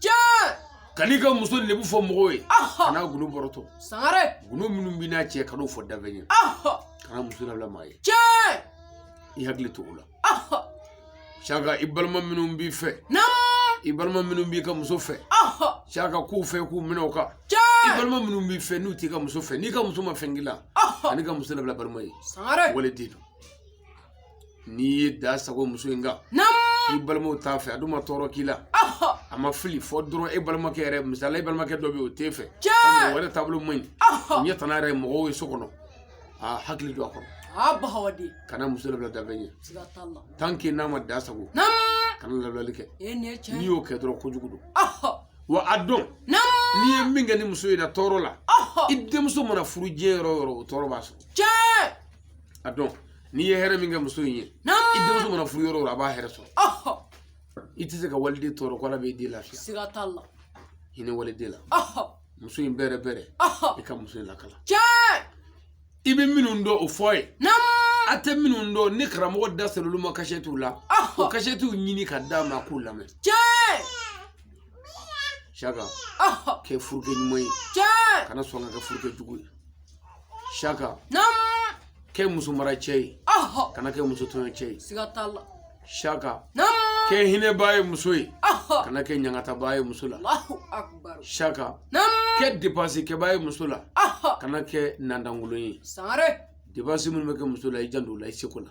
tiɲɛ kan'i ka muso lebu fɔ mɔgɔw ye kan'a gundo bɔrɔtɔ sangare gundo minnu b'i n'a cɛ kan'o fɔ dafɛn ye kana muso labila maa ye tiɲɛ i hakili to o la saka i balima minnu b'i fɛ i balima minnu b'i ka muso fɛ saka k'u fɛ k'u minɛ o kan i balima minnu b'i fɛ n'u t'i ka muso fɛ n'i ka muso ma fɛn k'i la kan'i ka muso labila balima ye waliden don n'i ye dan sagon muso in kan i balimaw t'a fɛ a dun ma tɔɔrɔ k'i la a ma fili fɔ dɔrɔn e balimakɛ yɛrɛ misali e balimakɛ dɔ bɛ yen o t'e fɛ mɔgɔ wɛrɛ taabolo man ɲi ɲɛ tana yɛrɛ mɔgɔw ye so kɔnɔ a hakili don a kɔrɔ a bahawadi kana muso labila dafɛn ye siga t'a la tant que n'a ma dan sagon kana labilali kɛ e nin ye tiɲɛ n'i y'o kɛ dɔrɔn kojugu don wa a dɔn n'i ye min kɛ nin muso in na tɔɔrɔ la i denmuso mana furu diɲɛ yɔrɔ o yɔrɔ o tɔɔrɔ b'a sɔrɔ tiɲɛ a dɔn n'i ye hɛrɛ min kɛ muso in ye i denmuso mana furu yɔrɔ o yɔrɔ a b'a hɛrɛ sɔrɔ i tɛ se ka waliden tɔɔrɔ ko ala b'i den lafiya siga t'a la hinɛ waliden la muso in bɛrɛ bɛrɛ i ka muso in lakalan i bɛ minnu dɔn o fɔ a ye a tɛ minnu dɔn ni karamɔgɔ da sera olu ma kasɛtiw la o kasɛtiw ɲini ka d'a ma k'u lamɛn saka kɛ furukɛ ɲuman ye kana sɔn ka kɛ furukɛ jugu ye Saka. Naamu. Kɛ muso mara cɛ ye. Ɔhɔ. Kana kɛ muso tɔɲɔ cɛ ye. Siga t'a la. Saka. Naamu. Kɛ hinɛbaa ye muso ye. Ɔhɔ. Kana kɛ ɲangatabaa ye muso la. Alahu akubaru. Saka. Naamu. Kɛ depansi kɛbaa ye muso la. Ɔhɔ. Kana kɛ nandankolon ye. Sangare. Depansi minnu bɛ kɛ muso la i janto o la i seko la.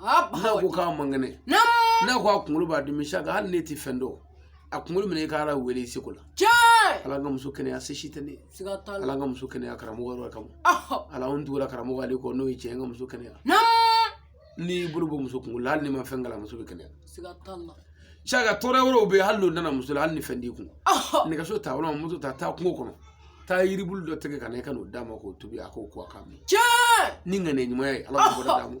n'a ko k'a man kɛnɛ n'a ko a kunkolo b'a dimi saka hali n'e tɛ fɛn dɔn a kunkolo minɛ i ka ala wele i seko la ala n ka muso kɛnɛya se si tɛ ne ye ala n ka muso kɛnɛya karamɔgɔ yɔrɔ kama ala n tugura karamɔgɔ ale kɔ n'o ye tiɲɛ n ka muso kɛnɛya n'i bolo bɔ muso kunkolo la hali n'i ma fɛn kalan muso bɛ kɛnɛya saka tɔɔrɔ wɛrɛw bɛ yen hali n'o nana muso la hali ni fɛn t'i kun nɛgɛso ta walima moto ta taa kungo kɔnɔ taa yiribulu dɔ tigɛ ka na i ka n'o d'a ma k'o tobi a k'o ko a k'a min ni ŋaniya ɲuman ye ala ka bɔra d'a ma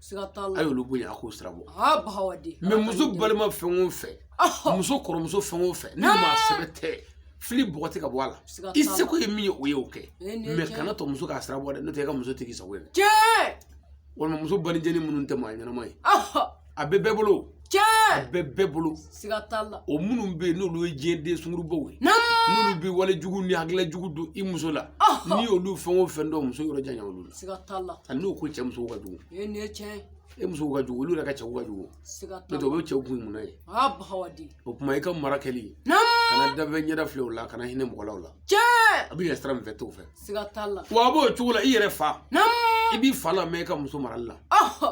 siga t'a la a y'olu bonya a k'o sira bɔ aa bahawa di mɛ muso balima fɛn o fɛn ɔhɔ muso kɔrɔmuso fɛn o fɛn ni maa sɛbɛ tɛ fili bɔgɔti ka bɔ a la siga t'a la i seko ye min ye o ye o kɛ Ee, nin ye tiɲɛ ye. mɛ kana to muso k'a sira bɔ dɛ n'o tɛ i ka muso tigi sago ye dɛ tiɲɛ walima muso balijɛni minnu tɛ maa ɲɛnama ye ɔhɔ a bɛ bɛɛ bolo tiɲɛ a bɛ bɛɛ bolo siga t'a la o minnu bɛ yen n'olu ye diɲɛ den sungurubaw ye n'olu bɛ wale jugu ni hakilila jugu don i muso la n'i y'olu fɛn o fɛn dɔn muso yɔrɔ janya olu la siga t'a la hali n'o ko cɛ musow ka jugu e nin ye tiɲɛ ye e musow ka jugu olu yɛrɛ ka cɛw ka jugu n'o tɛ o bɛ cɛw kun mun na ye o tuma i ka mara kɛli kana danfɛn ɲɛda filɛ o la kana hinɛ mɔgɔ la o la a bɛ yɛlɛ sira min fɛ t'o fɛ wa a b'o cogo la i yɛrɛ fa i b'i fa lamɛn i ka muso marali la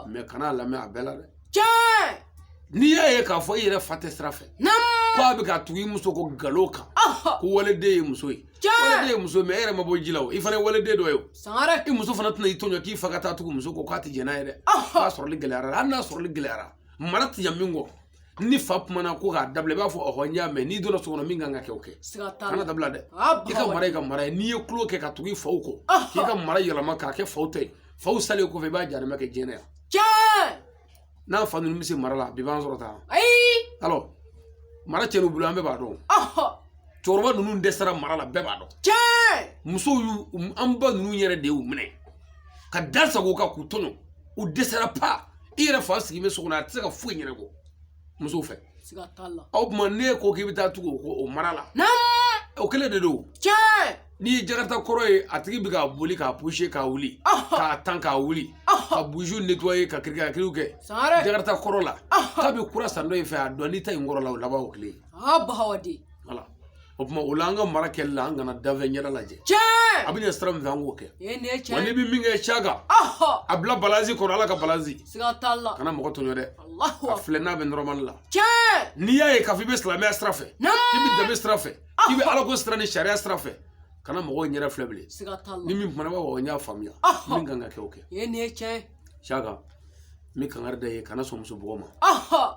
mɛ kana a lamɛn a bɛɛ la dɛ tiɲɛ n'i y'a ye k'a fɔ i yɛrɛ fa tɛ sira fɛ ko a bɛ ka tugu i muso kɔ nkalon kan ko waleden ye muso ye waleden ye muso ye mɛ e yɛrɛ ma bɔ ji la o i fana ye waleden dɔ ye o sangare i muso fana tɛna i tɔɲɔ k'i fa ka taa tugu muso kɔ k'a tɛ jɛn n'a ye dɛ k'a sɔrɔli gɛlɛyara hali n'a sɔrɔli gɛlɛyara mara tɛ ɲɛ min kɔ ni fa kumana ko k'a dabila i b'a fɔ ɔhɔ n y'a mɛn n'i donna so kɔnɔ min kan ka kɛ o kɛ kan'a dabila dɛ i ka mara i ka mara ye n'i ye tulo kɛ ka tugu i faw kɔ k'i ka mara yɛlɛma k'a kɛ faw ta ye faw salen kɔfɛ i b'a jarima kɛ diɲɛ na yan tiɲɛ n'an fa ninnu bɛ se mara la bi b'an sɔrɔ tan ayi alɔ mara cɛn'u bolo an bɛɛ b'a dɔn cɛkɔrɔba ninnu dɛsɛra mara la bɛɛ b'a dɔn tiɲɛ musow y'u an ba ninnu yɛrɛ de y'u minɛ ka da sago kan k'u tɔɲɔ u dɛsɛra pa i yɛrɛ fa sigilen bɛ so kɔnɔ a tɛ se ka foyi ɲɛnabɔ musow fɛ o tuma n'e ko k'i bɛ taa tugu o mara la o kelen de don n'i ye jakarata kɔrɔ ye a tigi bɛ k'a boli k'a puse k'a wuli k'a tan k'a wuli ka buzi netɔye ka kirikakiriw kɛ jakarata kɔrɔ la k'a bɛ kura san dɔ in fɛ a dɔn n'i ta in kɔrɔ la o laban o kelen aa bahawa de voilà o tuma o la an ka mara kɛli la an kana danfɛn ɲɛda lajɛ tiɲɛ a bɛ ɲɛ sira min fɛ an k'o kɛ e ne wa n'i tiɲɛ bɛ min kɛ caga ahɔ a bila balansi kɔrɔ ala ka balansi siga t'a la kana mɔgɔ tɔɲɔ dɛ alahu a akbar filɛ n'a bɛ nɔrɔmali la tiɲɛ n'i y'a ye k'a fɔ i bɛ silamɛya sira fɛ k'i bɛ naamu danbe sira fɛ k'i bɛ alako sira ni sariya sira fɛ kana mɔgɔw ɲɛda filɛ bilen siga t'a ni la min kumana b'a fɔ n y'a faamuya ahɔ min kan ka kɛ o kɛ e ne tiɲɛ caga n bɛ kangari da i ye kana sɔn muso bugɔ ma ahɔ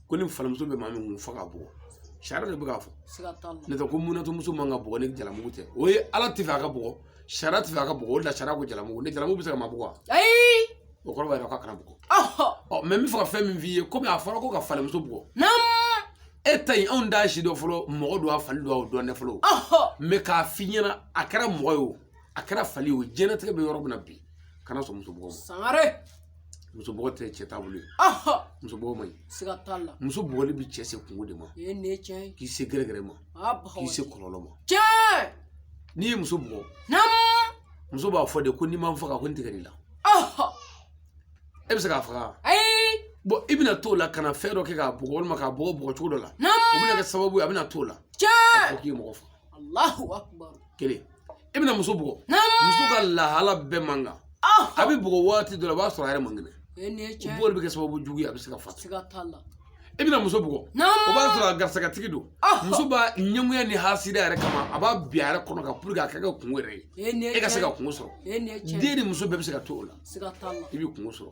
ko ni falimuso bɛ maa min kun fo k'a bugɔ sariya de bɛ k'a fɔ ne tɛ ko munatomuso man ka bugɔ ni jalamugu tɛ o ye ala tɛ fɛ a ka bugɔ sariya tɛ fɛ a ka bugɔ o de la sariya ko jalamugu ni jalamugu bɛ se ka maa bugɔ wa ayi o kɔrɔ b'a yira k'a kana bugɔ mɛ n bɛ fɛ ka fɛn min f'i ye komi a fɔra ko ka falimuso bugɔ e ta in anw t'a si dɔn fɔlɔ mɔgɔ don a fali don a dɔn dɛ fɔlɔ mɛ k'a f'i ɲɛna a kɛra mɔgɔ ye o a kɛra fali ye o diɲɛlatigɛ bɛ yɔrɔ min na bi kana sɔn muso bugɔ ma sangare muso bugɔ tɛ cɛ taabolo ye muso bugɔ man ɲi siga t'a la muso bugɔli bɛ cɛ se kunko de ma e ne cɛ k'i se gɛrɛgɛrɛ ma k'i se kɔlɔlɔ ma cɛ n'i ye muso bugɔ muso b'a fɔ de ko n'i ma n faga ko n tigɛr'i la e bɛ se k'a faga bon i bɛna t'o la ka na fɛn dɔ kɛ k'a bugɔ walima k'a bugɔ bugɔ cogo dɔ la o bɛna kɛ sababu ye a bɛna t'o la k'i ye mɔgɔ faga Alahu akubaru. Kelen. I bɛna muso bugɔ. Naamu. Muso ka lahala bɛɛ man kan. Ɔhɔn. A bɛ bugɔ waati dɔ la, o b'a sɔrɔ a yɛrɛ man kɛnɛ. E nin ye O tiɲɛ ye. bugɔli bɛ kɛ sababu jugu ye, a bɛ se ka fatu. Siga t'a la. I bɛna muso bugɔ. Naamu. O b'a sɔrɔ a garisɛgɛtigi don. Ɔhɔn. Muso b'a ɲɛngoya ni hasida yɛrɛ kama, a b'a bin a yɛrɛ kɔnɔ kan pour que a ka kɛ kunko yɛrɛ ye. E nin ye E ka se tiɲɛ ka ye. kunko sɔrɔ. E nin ye tiɲɛ ye. Den ni muso bɛɛ bɛ se ka to o la. Siga t'a la. I bɛ kunko sɔrɔ.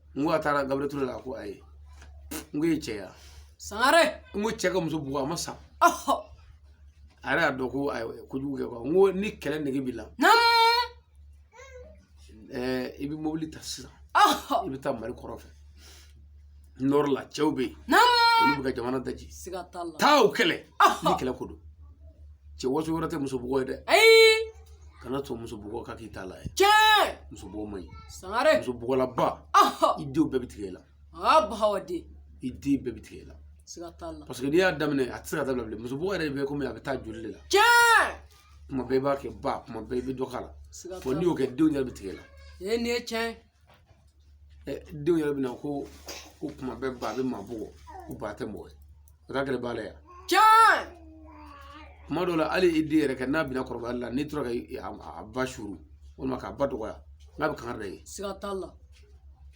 n ko a taara gabriel ture la a ko ayi n ko e cɛ ya sangare n ko cɛ ka muso bugɔ a ma sa ɔhɔ a yɛrɛ y'a dɔn ko a ye kojugu kɛ quoi n ko ni kɛlɛ nege b'i la nam ɛɛ i bɛ mobili ta sisan ɔhɔ i bɛ taa mali kɔrɔn fɛ nord la cɛw bɛ yen nam olu bɛ ka jamana daji siga t'a la taa o kɛlɛ Ɔhɔ. ni kɛlɛ ko don cɛ waso wɛrɛ tɛ muso bugɔ ye dɛ ayi kana to muso bugɔ ka k'i ta la ye tiɲɛ muso bugɔ man ɲi sangare muso bugɔlaba i denw bɛɛ bɛ tigɛ i la aa bahawa de i den bɛɛ bɛ tigɛ i la siga t'a la parce que n'i y'a daminɛ a tɛ se ka dabila bilen muso bugɔ yɛrɛ bɛ komi a bɛ taa joli de la tiɲɛ kuma bɛɛ i b'a kɛ ba kuma bɛɛ i bɛ dɔ k'a la n'i y'o kɛ denw yɛrɛ bɛ tigɛ i la ee nin ye tiɲɛ denw yɛrɛ bɛna ko ko kuma bɛɛ ba bɛ maa bugɔ ko ba tɛ mɔgɔ ye o t'a kɛlɛ b'a la yan can kuma dɔw la hali i den yɛrɛ kɛ n'a bɛna kɔrɔbayali la n'i tora ka i- a a ba suru walima k'a ba dɔgɔya n'a bɛ kangari da i ye siga t'a la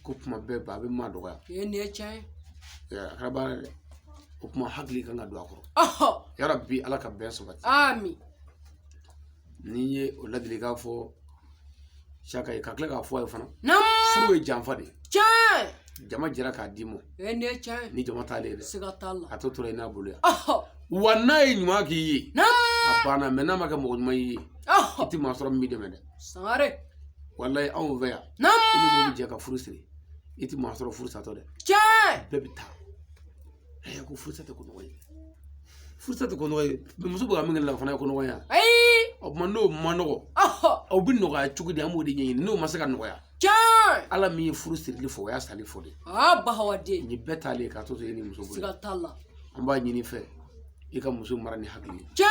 ko kuma bɛɛ ba bɛ maa dɔgɔya o ye nin ye tiɲɛ ye Ɛ, a kɛra baara ye dɛ o kuma hakili kan ka don a kɔrɔ ɔhɔ yarabi ala ka bɛn sabati ami n'i ye o ladilikan fɔ saka ye ka tila k'a fɔ a ye fana furu ye janfa de ye tiɲɛ jama jɛra k'a d'i ma ni jama taalen ye dɛ a tɔ tora i n'a bolo yan wa n'a ye ɲuman k'i ye a banna mɛ n'a ma kɛ mɔgɔ ɲuman y'i ye i tɛ maa sɔrɔ min b'i dɛmɛ dɛ sangare walayi anw fɛ yan i ni mɔgɔ bɛ jɛ ka furu siri i tɛ maa sɔrɔ furu satɔ dɛ bɛɛ bɛ taa Ayi ko furusa tɛ ko nɔgɔ ye furusa tɛ ko nɔgɔ ye muso bɛ ka min kɛ la o fana ye ko nɔgɔ ye o tuma n'o man nɔgɔ aw bɛ nɔgɔya cogo di an b'o de ɲɛɲini n'o ma se ka nɔgɔya ala min ye furu sirili fɔ o y'a sali fɔ de bahawaden ni bɛɛ taalen k'a to e ni muso bolo siga t'a la an b'a ɲin'i fɛ i ka muso mara ni hakili ye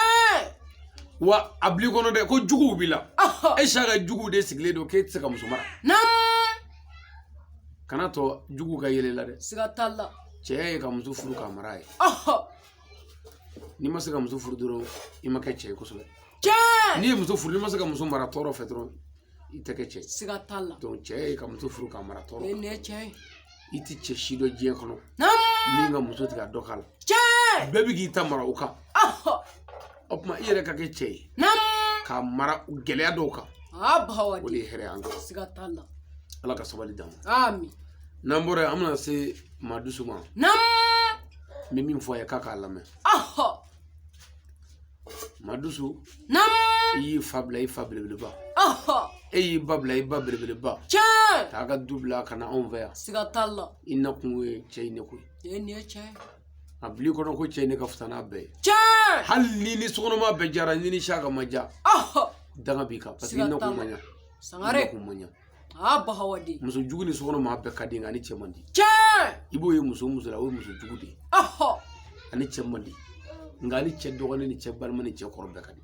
wa a bil'i kɔnɔ dɛ ko juguw b'i la e saka juguw de sigilen don k'e tɛ se ka muso mara kan'a to juguw ka yɛl'i la dɛ siga t'a la cɛ ye ka muso furu k'a mara ye n'i ma se ka muso furu dɔrɔn i ma kɛ cɛ ye kosɛbɛ n'i ye muso furu n'i ma se ka muso mara tɔɔrɔ fɛ dɔrɔn i tɛ kɛ cɛ ye siga t'a la cɛ ye ka muso furu k'a mara tɔɔrɔ nin ye tiɲɛ ye i tɛ cɛ si dɔn diɲɛ kɔnɔ min ka muso tigɛ dɔ k'a la bɛɛ bɛ k'i ta mara o kan o tuma i yɛrɛ ka kɛ cɛ ye k'a mara gɛlɛya dɔw kan o de ye hɛrɛ an kan ala ka sabali d'an ma n'an bɔra yen an bɛna se maadusu ma n bɛ min fɔ a ye k'a k'a lamɛn maadusu i y'i fa bila i fa belebeleba e y'i ba bila i ba belebeleba k'a ka du bila ka na anw fɛ yan i nakun ye cɛ in ne ko ye a bil'i kɔnɔ ko cɛ in ne ka fisa n'a bɛɛ ye tiɲɛ hali n'i ni sokɔnɔmaa bɛɛ diyara n'i ni saka ma diya danga b'i kan parce que i nakun ma ɲa sangare i nakun ma ɲa aa bahawa de muso jugu ni sokɔnɔmaa bɛɛ ka di nka a ni cɛ man di tiɲɛ i b'o ye muso o muso la o ye muso jugu de ye a ni cɛ man di nka a ni cɛ dɔgɔnin ni cɛ balima ni cɛ kɔrɔ bɛɛ ka di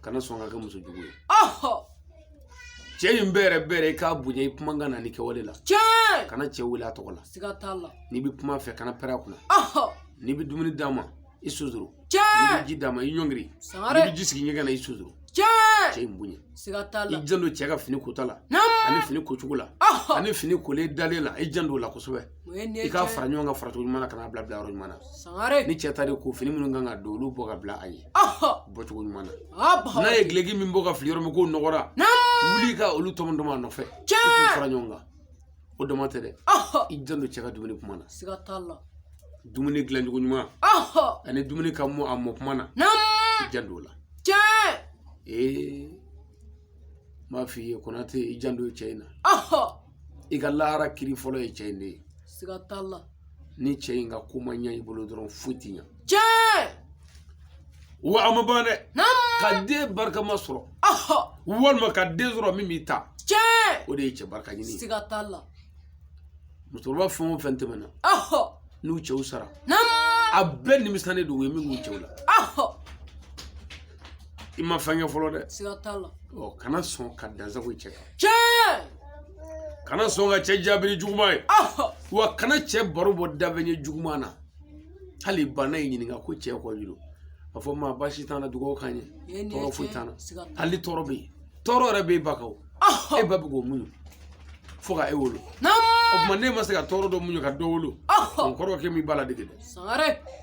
kana sɔn ka kɛ muso jugu ye cɛ in bɛrɛbɛrɛ i k'a bonya i kumakan na n'i kɛwale la tiɲɛ kana cɛ wele a tɔgɔ la siga t'a la n'i bɛ kum'a fɛ kana pɛrɛn a kunna n'i bɛ dumuni d'a ma i sonsoro tiɲɛ n'i bɛ ji d'a ma i ɲɔngiri n'i bɛ ji sigi ɲɛgɛn na i sonsoro tiɲɛ cɛ in bonya siga t'a la i janto cɛ ka fini kota la ani fini kocogo la ani fini kolen dalen la i janto o la kosɛbɛ i k'a fara ɲɔgɔn kan faracogo ɲuman na ka n'a bila bilayɔrɔ ɲuman na sangare ni cɛ ta de ko fini minnu kan ka don olu bɔ ka bila a ye bɔcogo ɲuman na n'a ye duloki min bɔ k'a fili yɔrɔ min k'o nɔgɔra wuli ka olu tɔmɔtɔmɔ a nɔfɛ i k'u fara ɲɔgɔn kan o dama tɛ dɛ i janto cɛ ka dumuni kuma na siga t'a la dumuni dilancogo ɲuman ani dumuni ka mɔ a mɔ kuma na i janto o la ee n b'a f'i ye konate i janto cɛ in na i ka lahara kiri fɔlɔ ye cɛ in de ye siga t'a la ni cɛ in ka ko ma ɲɛ i bolo dɔrɔn foyi tɛ ɲɛ tiɲɛ wa a ma ban dɛ ka den barikama sɔrɔ walima ka den sɔrɔ min b'i ta tiɲɛ o de ye cɛ barika ɲini ye siga t'a la musokɔrɔba fɛn o fɛn tɛmɛna n'u cɛw sara a bɛɛ nimisalen don u ye min k'u cɛw la i ma fɛn kɛ fɔlɔ dɛ siga t'a la ɔ kana sɔn ka dansago i cɛ kan tiɲɛ kana sɔn ka cɛ jaabi ni juguman ye ɔhɔ wa kana cɛ baro bɔ da fɛ ɲɛ juguman na hali ba n'a y'i ɲininka ko cɛ kɔji don a fɔ ma baasi t'an na dugawu k'an ye Ee, nin ye tɔɔrɔ foyi tiɲɛ, t'an na siga t'a la. hali tɔɔrɔ bɛ yen tɔɔrɔ yɛrɛ bɛ e ba kan o ɔhɔ e ba bɛ k'o muɲu fo ka e wolo o naamu tuma n'e ma se ka tɔɔrɔ dɔ muɲu ka dɔ wolo ɔhɔ o kɔrɔ k'e m'i ba ladege dɛ sangare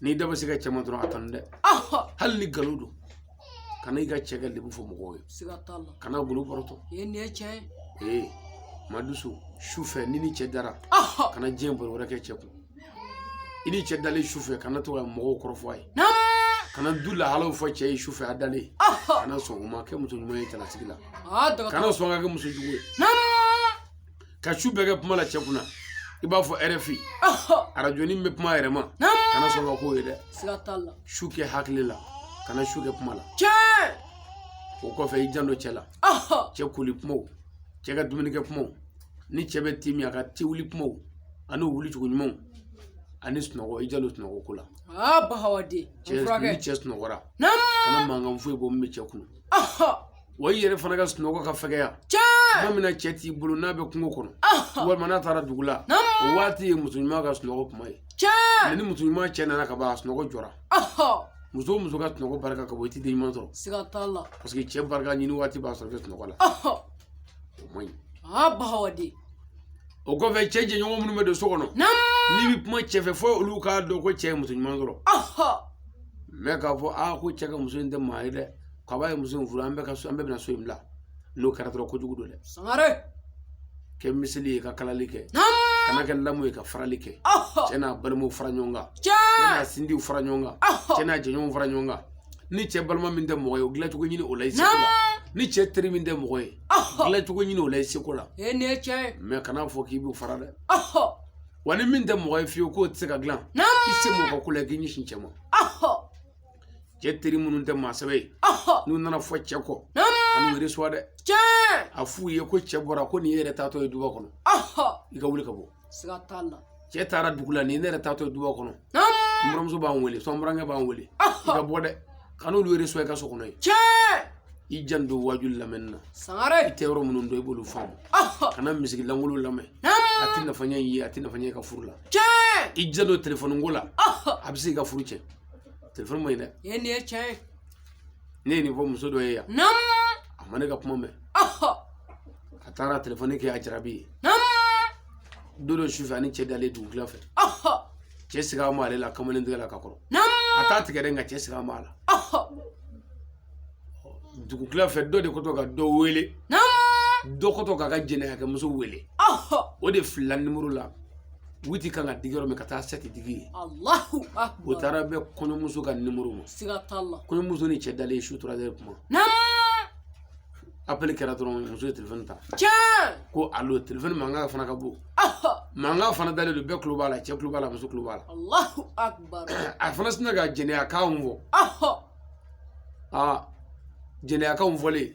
n'i da bɛ se i ka cɛ ma dɔrɔn a tanu dɛ hali ni nkalon don kana i ka cɛ ka lebu fɔ mɔgɔw ye siga t'a la kana gundo bɔrɔtɔ ye nin ye tiɲɛ ye ee madusu su fɛ ni ni cɛ dara kana diɲɛ baro wɛrɛ kɛ cɛ kun i ni cɛ dalen su fɛ kana to ka mɔgɔw kɔrɔfɔ a ye kana du lahalaw fɔ cɛ ye su fɛ a dalen kana sɔn o ma kɛ muso ɲuman ye cɛlasigi la kana sɔn ka kɛ muso jugu ye ka su bɛɛ kɛ kuma la cɛ kunna i b'a fɔ rfi arajo nin bɛ kuma yɛrɛ ma kana sɔn ka k'o ye dɛ siga t'a la su kɛ hakili la kana su kɛ kuma la o kɔfɛ i janto cɛ la cɛ koli kumaw cɛ ka dumunikɛ kumaw ni cɛ bɛ ti min a ka ti wuli kumaw ani wuli cogo ɲumanw ani sunɔgɔ i janto sunɔgɔ ko la cɛ ni cɛ sunɔgɔra kana mankan foyi bɔ min bɛ cɛ kunun wa i yɛrɛ fana ka sunɔgɔ ka fɛgɛya tuma min na cɛ t'i bolo n'a bɛ kungo kɔnɔ walima n'a taara dugu la o waati ye muso ɲuman ka sunɔgɔ kuma ye mɛ ni muso ɲuman cɛ nana ka ban a sunɔgɔ jɔra muso muso ka sunɔgɔ barika ka bon i tɛ den ɲuman sɔrɔ siga t'a la paseke cɛ barika ɲini waati b'a sɔrɔ i bɛ sunɔgɔ la o man ɲi aa bahawaden o kɔfɛ cɛ jɛɲɔgɔn minnu bɛ don so kɔnɔ n'i bɛ kuma cɛ fɛ fo olu k'a dɔn ko cɛ ye muso ɲuman sɔrɔ mɛ k'a fɔ aa ko cɛ ka muso in tɛ maa ye dɛ kabi a ye muso in furu an bɛɛ ka so an bɛɛ bɛna so in bila n'o kɛra dɔrɔn kojugu don dɛ sangare kɛ miseli ye ka kalali kɛ kana kɛ lamu ye ka farali kɛ cɛ n'a balimaw fara ɲɔgɔn kan cɛ n'a sinjiw fara ɲɔgɔn kan cɛ n'a jɛɲɔgɔnw fara ɲɔgɔn kan ni cɛ balima min tɛ mɔgɔ ye o dilancogo ɲini o la i seko la ni cɛ teri min tɛ mɔgɔ ye dilancogo ɲini o la i seko la mɛ kana fɔ k'i b'u fara dɛ wa ni min tɛ mɔgɔ ye fiyewu k'o tɛ se ka dilan i sen bɔ o ko la k'i ɲɛsin cɛ ma cɛ teri minnu tɛ maa sɛbɛ ye n'u nana fɔ cɛ kɔ kan'u yɛrɛ suwa dɛ a f'u ye ko cɛ bɔra ko ne yɛrɛ taatɔ ye duba kɔnɔ i ka wuli ka bɔ siga t'a la cɛ taara dugu la ne yɛrɛ taatɔ ye duba kɔnɔ n buranmuso b'an wele so n burankɛ b'an wele i ka bɔ dɛ kan'olu yɛrɛ suwa i ka so kɔnɔ yen i janto waajuli lamɛnni na sangare i tɛ yɔrɔ minnu dɔn i b'olu faamu kana miziki lankolon lamɛn a tɛ nafa ɲɛ i ye a tɛ nafa ɲɛ i ka furu la i janto telefɔni ko la a bɛ se ka furu cɛn telefɔni man ɲi dɛ ee nin ye tiɲɛ ye ne ye nin fɔ muso dɔ ye yan nam a ma ne ka kuma mɛn ɔhɔ a taara telefɔni kɛ a jarabi ye nam don dɔ sufɛ a ni cɛ dalen dugu tila fɛ ɔhɔ cɛ siga b'ale la kamalen tigɛ la ka kɔrɔ nam a t'a tigɛ dɛ nka cɛ siga b'a la ɔhɔ dugu tila fɛ dɔ de kɔtɔ ka dɔ wele dɔ kɔtɔ k'a ka jɛnɛyakɛmuso wele o de filila nimoro la witi kan ka digi yɔrɔ min ka taa sɛti digi yen alahu akibaru o taara bɛn kɔɲɔmuso ka nimoro ma siga t'a la kɔɲɔmuso ni cɛ dalen su tora dɛrɛ kuma apɛli kɛra dɔrɔn muso ye telefɔni ta ko alo telefɔni mankan fana ka bon mankan fana dalen don bɛɛ tulo b'a la cɛ tulo b'a la muso tulo b'a la a fana sinna ka jɛnɛyakanw fɔ aa jɛnɛyakanw fɔlen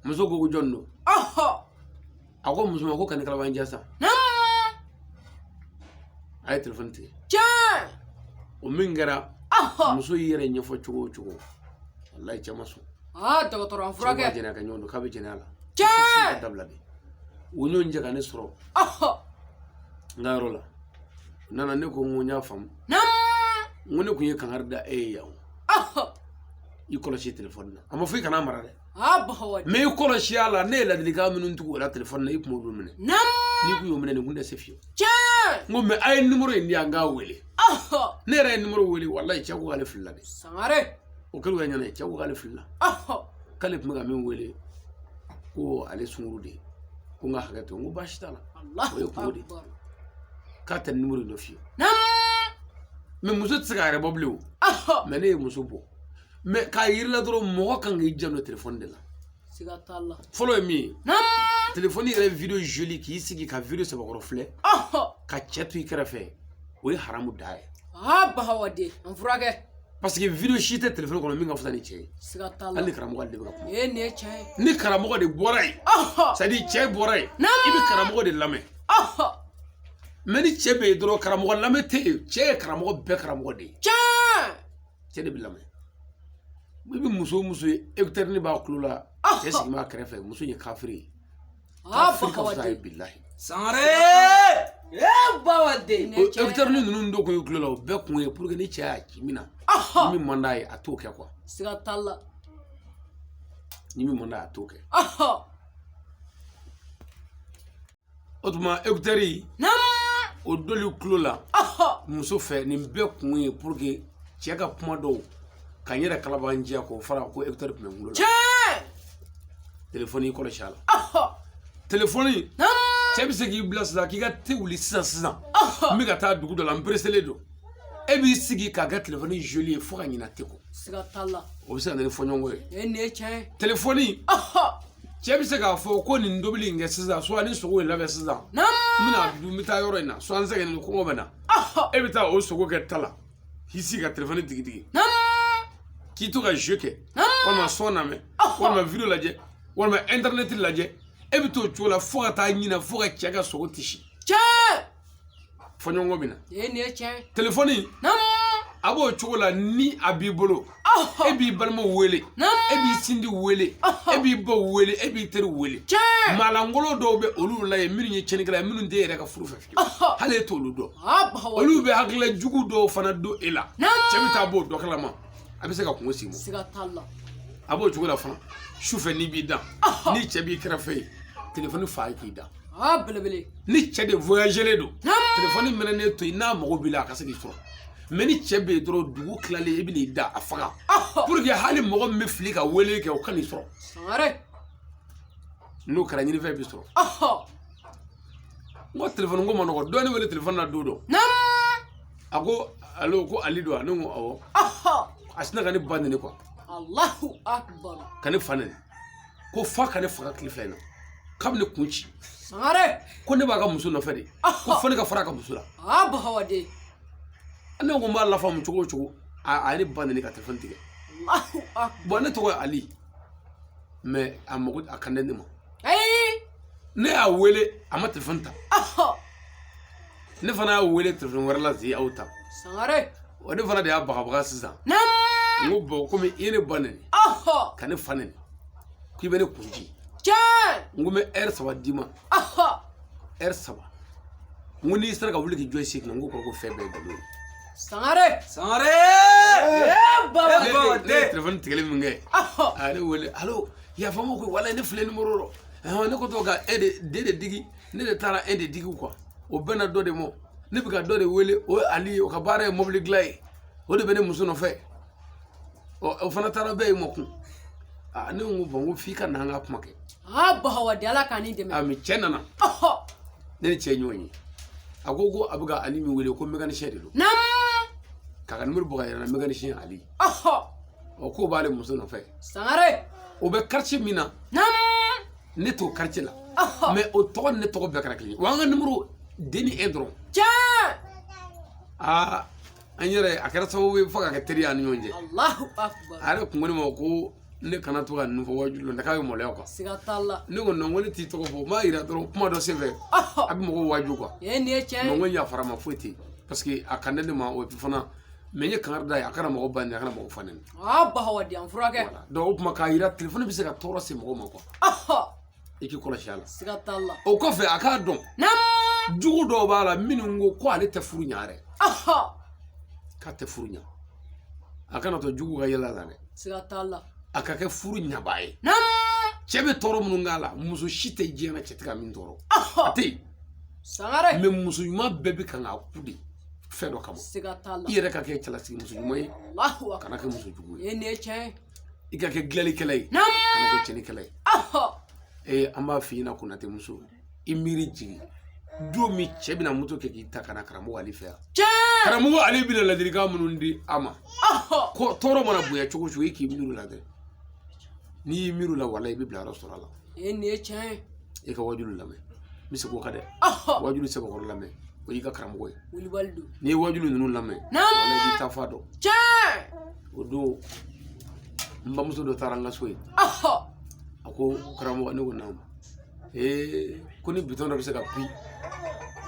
muso ko ko jɔn don a ko muso ma ko kan'i kalabanciya sa a ye telefɔni tigɛ o min kɛra muso y'i yɛrɛ ɲɛfɔ cogo o cogo walayi cɛ ma sɔn dɔgɔtɔrɔ a furakɛ jɛnɛyakɛɲɔgɔn don k'a bɛ jɛnɛya la cɛ dabila bi u ɲɔgɔn jɛ ka ne sɔrɔ n ka yɔrɔ la u nana ne ko n ko n y'a faamu n ko ne kun ye kankari da e ye yan i kɔlɔsi telefɔni na a ma fɔ i kan'a mara dɛ mɛ i kɔlɔsi a la ne ye ladilikan minnu tugu o la telefɔni na i kun m'olu minɛ n'i kun y'o minɛ nin kun tɛ se fiyewu n ko mɛ a ye nimoro in di yan n k'a wele ne yɛrɛ ye nimoro wele walayi cɛ ko k'ale filila de sangare o kɛlen u ɲɛna ye cɛ ko k'ale filila k'ale tun bɛ ka min wele ko ale sungurun de ye ko n ka hakɛ to n ko baasi t'a la o ye kunko de ye k'a tɛ nimoro dɔ f'i ye mɛ muso tɛ se k'a yɛrɛ bɔ bilen o mɛ ne ye muso bɔ mɛ k'a yir'a la dɔrɔn mɔgɔ kan k'i janto telefɔni de la siga t'a la fɔlɔ ye min ye telefɔni yɛrɛ video joli k'i sigi ka video cɛbakɔrɔ filɛ ka cɛ to i kɛrɛfɛ o ye haramu de ye aa bahawaden a furakɛ parce que video si tɛ telefɔni kɔnɔ min ka fisa ni cɛ ye siga t'a la hali ni karamɔgɔ de bɛ ka kuma ee nin ye tiɲɛ ye ni karamɔgɔ de bɔra yen c'est à dire cɛ bɔra yen i bɛ karamɔgɔ de lamɛn mɛ ni cɛ bɛ yen dɔrɔn karamɔgɔ lamɛn tɛ yen cɛ ye karamɔgɔ bɛɛ karamɔgɔ de ye cɛ de bɛ lamɛn i bɛ muso muso ye ekutɛrini b'a tulo la cɛ sigi b'a kɛrɛfɛ muso ye kafiri ye kafiri ka fisa ye bilahi sangare ekutɛrini ninnu don kun ye tulo la o bɛɛ kun ye pour que ni cɛ y'a ci min na ni min man d'a ye a t'o kɛ kuwa siga t'a la ni min man d'a ye a t'o kɛ o tuma ekutɛri o doli tulo la muso fɛ nin bɛɛ kun ye pour que cɛ ka kuma dɔw ka n yɛrɛ kalabanciya k'o fara ko ekutɛri tun bɛ n bolo la telefɔni kɔlɔsi a la telefɔni cɛ bɛ se k'i bila sisan k'i ka te wuli sisan sisan n bɛ ka taa dugu dɔ la n pereselen don e b'i sigi k'a kɛ telefɔni joli ye fo ka ɲina te kɔ siga t'a la o bɛ se ka na ni fɔɲɔgɔnkɔ ye e nin ye tiɲɛ ye telefɔni cɛ bɛ se k'a fɔ ko nin tobili in kɛ sisan suwa ni sogo in labɛn sisan n bɛna dun n bɛ taa yɔrɔ in na suwa n sɛgɛnnen kɔngɔ bɛ n na e bɛ taa o sogo kɛ ta la k'i sigi ka telefɔni digidigi k'i to ka jeu kɛ walima son lamɛn walima video lajɛ walima internet lajɛ e bɛ t'o cogo la fo ka taa ɲina fo ka cɛ ka sogo sisi cɛ fɔɲɔgɔnkɔ bɛ na nin ye tiɲɛ ye telefɔni a b'o cogo la ni a b'i bolo e b'i balimaw wele e b'i sinji wele e b'i baw wele e b'i teri wele maalankolon dɔw bɛ olu la yen minnu ye cɛnnikɛla ye minnu tɛ e yɛrɛ ka furu fɛ fiyewu hali e t'olu dɔn olu bɛ hakilila jugu dɔw fana don e la cɛ bɛ taa b'o dɔ kalama a bɛ se ka kunko sigi mɔ a b'o cogo la fana sufɛ n'i b'i da ni cɛ b'i kɛrɛfɛ yen telefɔni faga yen k'i da aa belebele ni cɛ de voyagelen don telefɔni mɛnɛnen to yen n'a mago b'i la a ka se k'i sɔrɔ mɛ ni cɛ bɛ yen dɔrɔn dugu tilalen i bɛn'i da a faga pour que hali mɔgɔ min bɛ fili ka wele kɛ o kan'i sɔrɔ n'o kɛra ɲinifɛn b'i sɔrɔ n ko telefɔni ko ma nɔgɔ dɔ ye ne wele telefɔni na don dɔ a ko alo ko ali don wa ne ko awɔ a sinna ka ne ba nɛni kuwa ka ne fa nɛni ko f'a ka ne faga tile fila in na k'a bɛ ne kun ci sangare ko ne b'a ka muso nɔfɛ de ko fo ne ka fara a ka muso la a bahawaden ne ko n b'a lafamu cogo o cogo a ye ne ba nɛni ka telefɔni tigɛ bɔn ne tɔgɔ ye ali mɛ a mago a kan tɛ ne ma ne y'a wele a ma telefɔni ta ne fana y'a wele telefɔni wɛrɛ la zi a y'o ta sangare wa ne fana de y'a bagabaga sisan n ko bɔn komi i ye ne ba nɛni ka ne fa nɛni k'i bɛ ne kun ci n ko n bɛ ɛri saba d'i ma ɛri saba n ko n'i sera ka wuli k'i jɔ i sen kan n ko kɔrɔ ko fɛn bɛɛ ye nkalon ye sangare sangare ne ye telefɔni tigɛli min kɛ a ye ne wele alo yafa n ma koyi walayi ne filila nimoro rɔ ne ko to ka e de den de digi ne de taara e de digi quoi o bɛnna dɔ de ma ne bɛ ka dɔ de wele o ye ali ye o ka baara ye mobili dilan ye o de bɛ ne muso nɔfɛ o fana taara bɛɛ ye ma kun aa ne ko n ko bon n ko f'i ka na an ka kuma kɛ aa bahawa de ala k'an ni dɛmɛ mais cɛ nana ne ni cɛ ɲɔgɔn ye a ko ko a bɛ ka ali min wele ko mécanicien de don k'a ka nimoro bɔ ka yɛrɛ na mécanicien ali ɔ k'o b'ale muso nɔfɛ sangare o bɛ quartier min na ne t'o quartier la mais o tɔgɔ ni ne tɔgɔ bɛɛ kɛra kelen ye wa an ka nimoro den ni e dɔrɔn tiɲɛ aa an yɛrɛ a kɛra sababu ye fo ka kɛ teri an ni ɲɔgɔn cɛ a yɛrɛ kun ko ne ma ko ne kana to ka ninnu fɔ wajulu la k'a bɛ maloya quoi siga t'a la ne ko non ko ne t'i tɔgɔ fɔ n b'a jira dɔrɔn kuma dɔ senfɛ a bɛ mɔgɔw waju quoi nin ye tiɲɛ ye non ko n yafara ma foyi tɛ yen parce que a kan tɛ ne ma o fana mais n ye kangari da ye a kana mɔgɔ ba nɛni a kana mɔgɔ fa nɛni aa ba hawa di an furakɛ donc o tuma k'a yira telefɔni bɛ se ka tɔɔrɔ se mɔgɔ ma quoi i k'i kɔlɔsi a la siga t'a la o kɔfɛ a k'a dɔn jugu dɔw b'a la minnu ko ko ale tɛ furu ɲa yɛrɛ k'a tɛ furu ɲa a kana to jugu ka yɛlɛ la dɛ siga t'a la a ka kɛ furu ɲabaa ye cɛ bɛ tɔɔrɔ minnu k'a la muso si tɛ diɲɛ na cɛ tɛ ka min tɔɔrɔ a tɛ yen sangare mais muso ɲuman bɛɛ bɛ kan k'a ku de fɛn dɔ kama siga t'a la i yɛrɛ ka kɛ cɛlasigi muso ɲuman ye Alahu kana kɛ muso jugu ye ye nin ye tiɲɛ ye i ka kɛ dilanlikɛla ye Naamu. kana kɛ cɛnnikɛla ye Ahɔ. ee an b'a f'i ɲɛna konatɛ muso i miiri jigin don min cɛ bɛna moto kɛ k'i ta ka na karamɔgɔ ali fɛ yan tiɲɛ karamɔgɔ ali bɛna ladilikan minnu di a ma Ahɔ. ko tɔɔrɔ mana bonya cogo o cogo i k'i miiri o la dɛ n'i y'i miiri o la walayi i bɛ bila yɔrɔ sɔrɔ a la e nin ye tiɲɛ ye i ka wajulu lamɛn n bɛ segin o kan dɛ wajulu sɛbɛkɔrɔ lamɛn o y'i ka karamɔgɔ ye wulibali don n'i ye wajulu ninnu lamɛn walayi i b'i ta fan dɔn tiɲɛ o don n bamuso dɔ taara n ka so yen a ko karamɔgɔ ne ko naamu ee ko ni bitɔn dɔ bɛ se ka bisi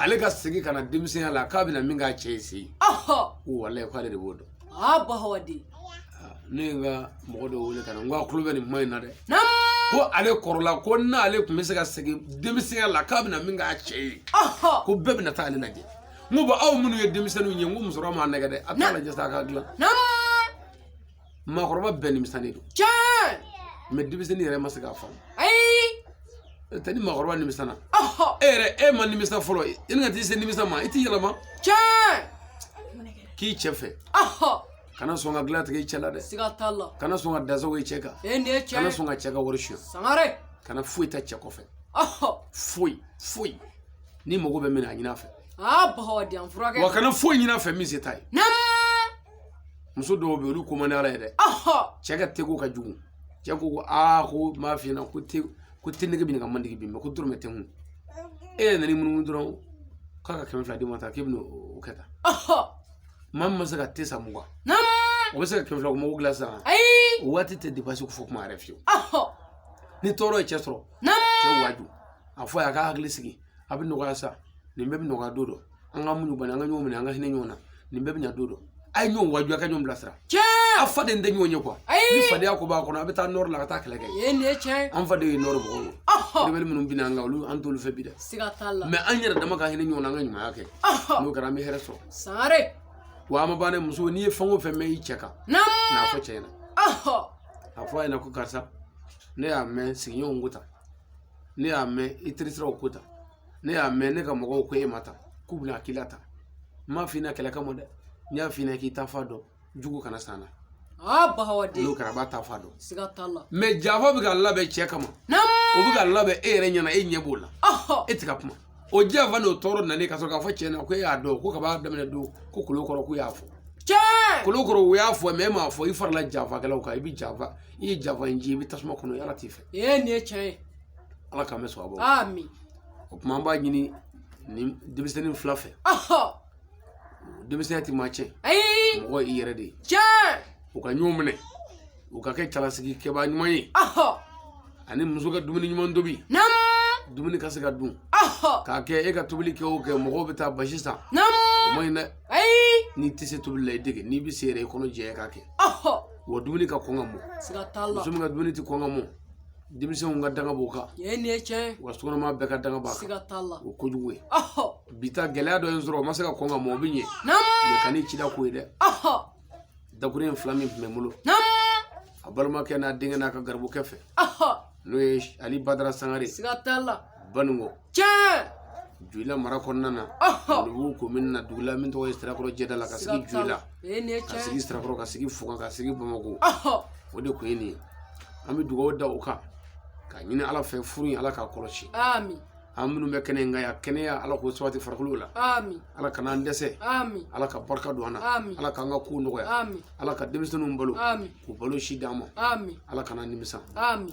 ale ka segin ka na denmisɛnya la k'a bɛna min k'a cɛ ye se ko walayi k'ale de b'o dɔn aa ba hawa de ne ye n ka mɔgɔ dɔ wele ka na n ko a tulo bɛ nin kuma in na dɛ ko ale kɔrɔla ko n'ale tun bɛ se ka segin denmisɛnya la k'a bɛna min k'a cɛ ye ko bɛɛ bɛna taa ale lajɛ n ko bon aw minnu ye denmisɛnninw ye n ko musokɔrɔba m'a nɛgɛ dɛ a t'a lajɛ sa a ka dilan maakɔrɔba bɛɛ nimisanen don mais denmisɛnnin yɛrɛ ma se k'a faamu tɛ ni maakɔrɔba nimisala e yɛrɛ e ma nimisa fɔlɔ i ni ka t'i se nimisa ma i t'i yɛlɛma tiɲɛ k'i cɛ fɛ kana sɔn ka dilan tigɛ i cɛ la dɛ siga t'a la kana sɔn ka dasago i cɛ kan e nin ye tiɲɛ kana sɔn ka cɛ ka wari suɲɛ sangare kana foyi ta cɛ kɔfɛ foyi foyi n'i mago bɛ min na a ɲin'a fɛ aa bahawa di an furakɛ wa kana foyi ɲin'a fɛ min se t'a ye muso dɔw bɛ yen olu ko man di ala ye dɛ cɛ ka teko ka jugu cɛ ko ko aa ko n b'a f'i ɲɛna ko te ko te nege bɛ nin ka mandigi bi mɛ ko dɔrɔmɛ tɛ n kun e yɛrɛ nana i munumunu dɔrɔn k'a ka kɛmɛ fila d'i ma ta k'e bɛna o kɛ tan maa min ma se ka te san mugan o bɛ se ka kɛmɛ fila ko mago dilan sisan o waati tɛ depase ko fɔ kuma yɛrɛ fiyewu ni tɔɔrɔ ye cɛ sɔrɔ cɛ waaju a fɔ a y'a k'a hakili sigi a bɛ nɔgɔya sa nin bɛɛ bɛ nɔgɔya don dɔ an ka muɲu bani an ka ɲɔgɔn minɛ an ka hinɛ ɲɔgɔn na nin bɛɛ bɛ ɲa don dɔ a ye ɲɔgɔn waaju a ka ɲɔgɔn bilasira tiɲɛ a faden tɛ ɲɔgɔn ye kuwa ni fadenya ko b'a kɔnɔ a bɛ taa nɔri la ka taa kɛlɛ kɛ yen nin ye tiɲɛ an faden ye nɔri mɔgɔw ye rebeli minnu binna an kan olu an t'olu fɛ bi dɛ siga t'a la mɛ an yɛrɛ dama ka hinɛ ɲɔgɔn na an ka ɲumanya kɛ n'o kɛra an bɛ hɛrɛ sɔrɔ sangare wa an ma ban dɛ muso n'i ye fɛn o fɛn mɛn i cɛ kan n'a fɔ cɛ ɲɛna a fɔ a ɲɛna ko karisa ne y'a mɛn sigiɲɔgɔnw ko tan ne y'a mɛn i terisiraw ko tan ne y'a mɛn ne ka mɔgɔw ko e ma tan k'u bɛna a k'i la tan n m'a f'i ɲɛna kɛlɛ kama dɛ n y'a f'i ɲɛna k'i taafan dɔn jugu kana s'an na aa bahawaden n'o kɛra a b'a taafan dɔn siga t'a la mɛ janfa bɛ ka labɛn cɛ kama o bɛ ka labɛn e yɛrɛ ɲɛna e ɲɛ b'o la e tɛ ka kuma o janfa n'o tɔɔrɔ nalen ka sɔrɔ k'a fɔ cɛ ɲɛna ko e y'a dɔn ko kab'a daminɛ don ko kolo kɔrɔ k'u y'a fɔ cɛ kolo kɔrɔ u y'a fɔ mɛ e m'a fɔ i farala janfakɛlaw kan i bɛ janfa i ye janfa in ci i bɛ tasuma kɔnɔ ala t'i fɛ ee nin ye tiɲɛ ye ala k'an bɛɛ sɔn a bɔ amin o tuma an b'a ɲini nin denmisɛnnin fila fɛ denmisɛnya tɛ maa tiɲɛ ayi mɔgɔ i yɛrɛ de ye tiɲɛ u ka ɲɔgɔn minɛ u ka kɛ cɛlasigi kɛbaa ɲuman ye ani muso ka dumuni ɲuman tobi dumuni ka se ka dun k'a kɛ e ka tobili kɛ o kɛ mɔgɔw bɛ taa basi san o ma ɲi dɛ n'i tɛ se tobili la i dege n'i bɛ se yɛrɛ i kɔnɔ jɛya k'a kɛ wa dumuni ka kɔn ka mɔ muso min ka dumuni tɛ kɔn ka mɔ denmisɛnw ka danga b'o kan nin ye nin ye tiɲɛ ye wa sokɔnɔma bɛɛ ka danga b'a kan siga t'a la o ye kojugu ye ɔhɔ bi ta gɛlɛya dɔ ye n sɔrɔ o ma se ka kɔn ka mɔ o bɛ ɲɛ naamu mɛ kan'i cida ko ye dɛ ɔhɔ dakuruɲɛ fila min tun bɛ n bolo naamu a balimakɛ n'a denkɛ n'a ka garibukɛ fɛ ɔhɔ n'o ye ali badara sangare siga t'a la Baningo tiɲɛ Joyila mara kɔnɔna na ɔhɔ Numu komini na dugu la min tɔgɔ ye Sirakɔrɔ Jɛda la ka sigi siga t'a Joyila la ee nin ye ka tiɲɛ sigi ye Sirakɔrɔ ka sigi Fuga ka sigi Bamakɔ ɔhɔ o de kun ye nin ye an bɛ dugawu da o kan ka ɲini Ala fɛ furu in Ala k'a kɔlɔsi ami an minnu bɛ kɛnɛ in kan yan kɛnɛya Ala k'o sabati farikolo la ami Ala kana an dɛsɛ ami Ala ka barika don an na Amin. Ala k'an ka kow nɔgɔya ami Ala ka denmisɛnninw balo ami k'u balo si d'an ma ami Ala kana an nimisa ami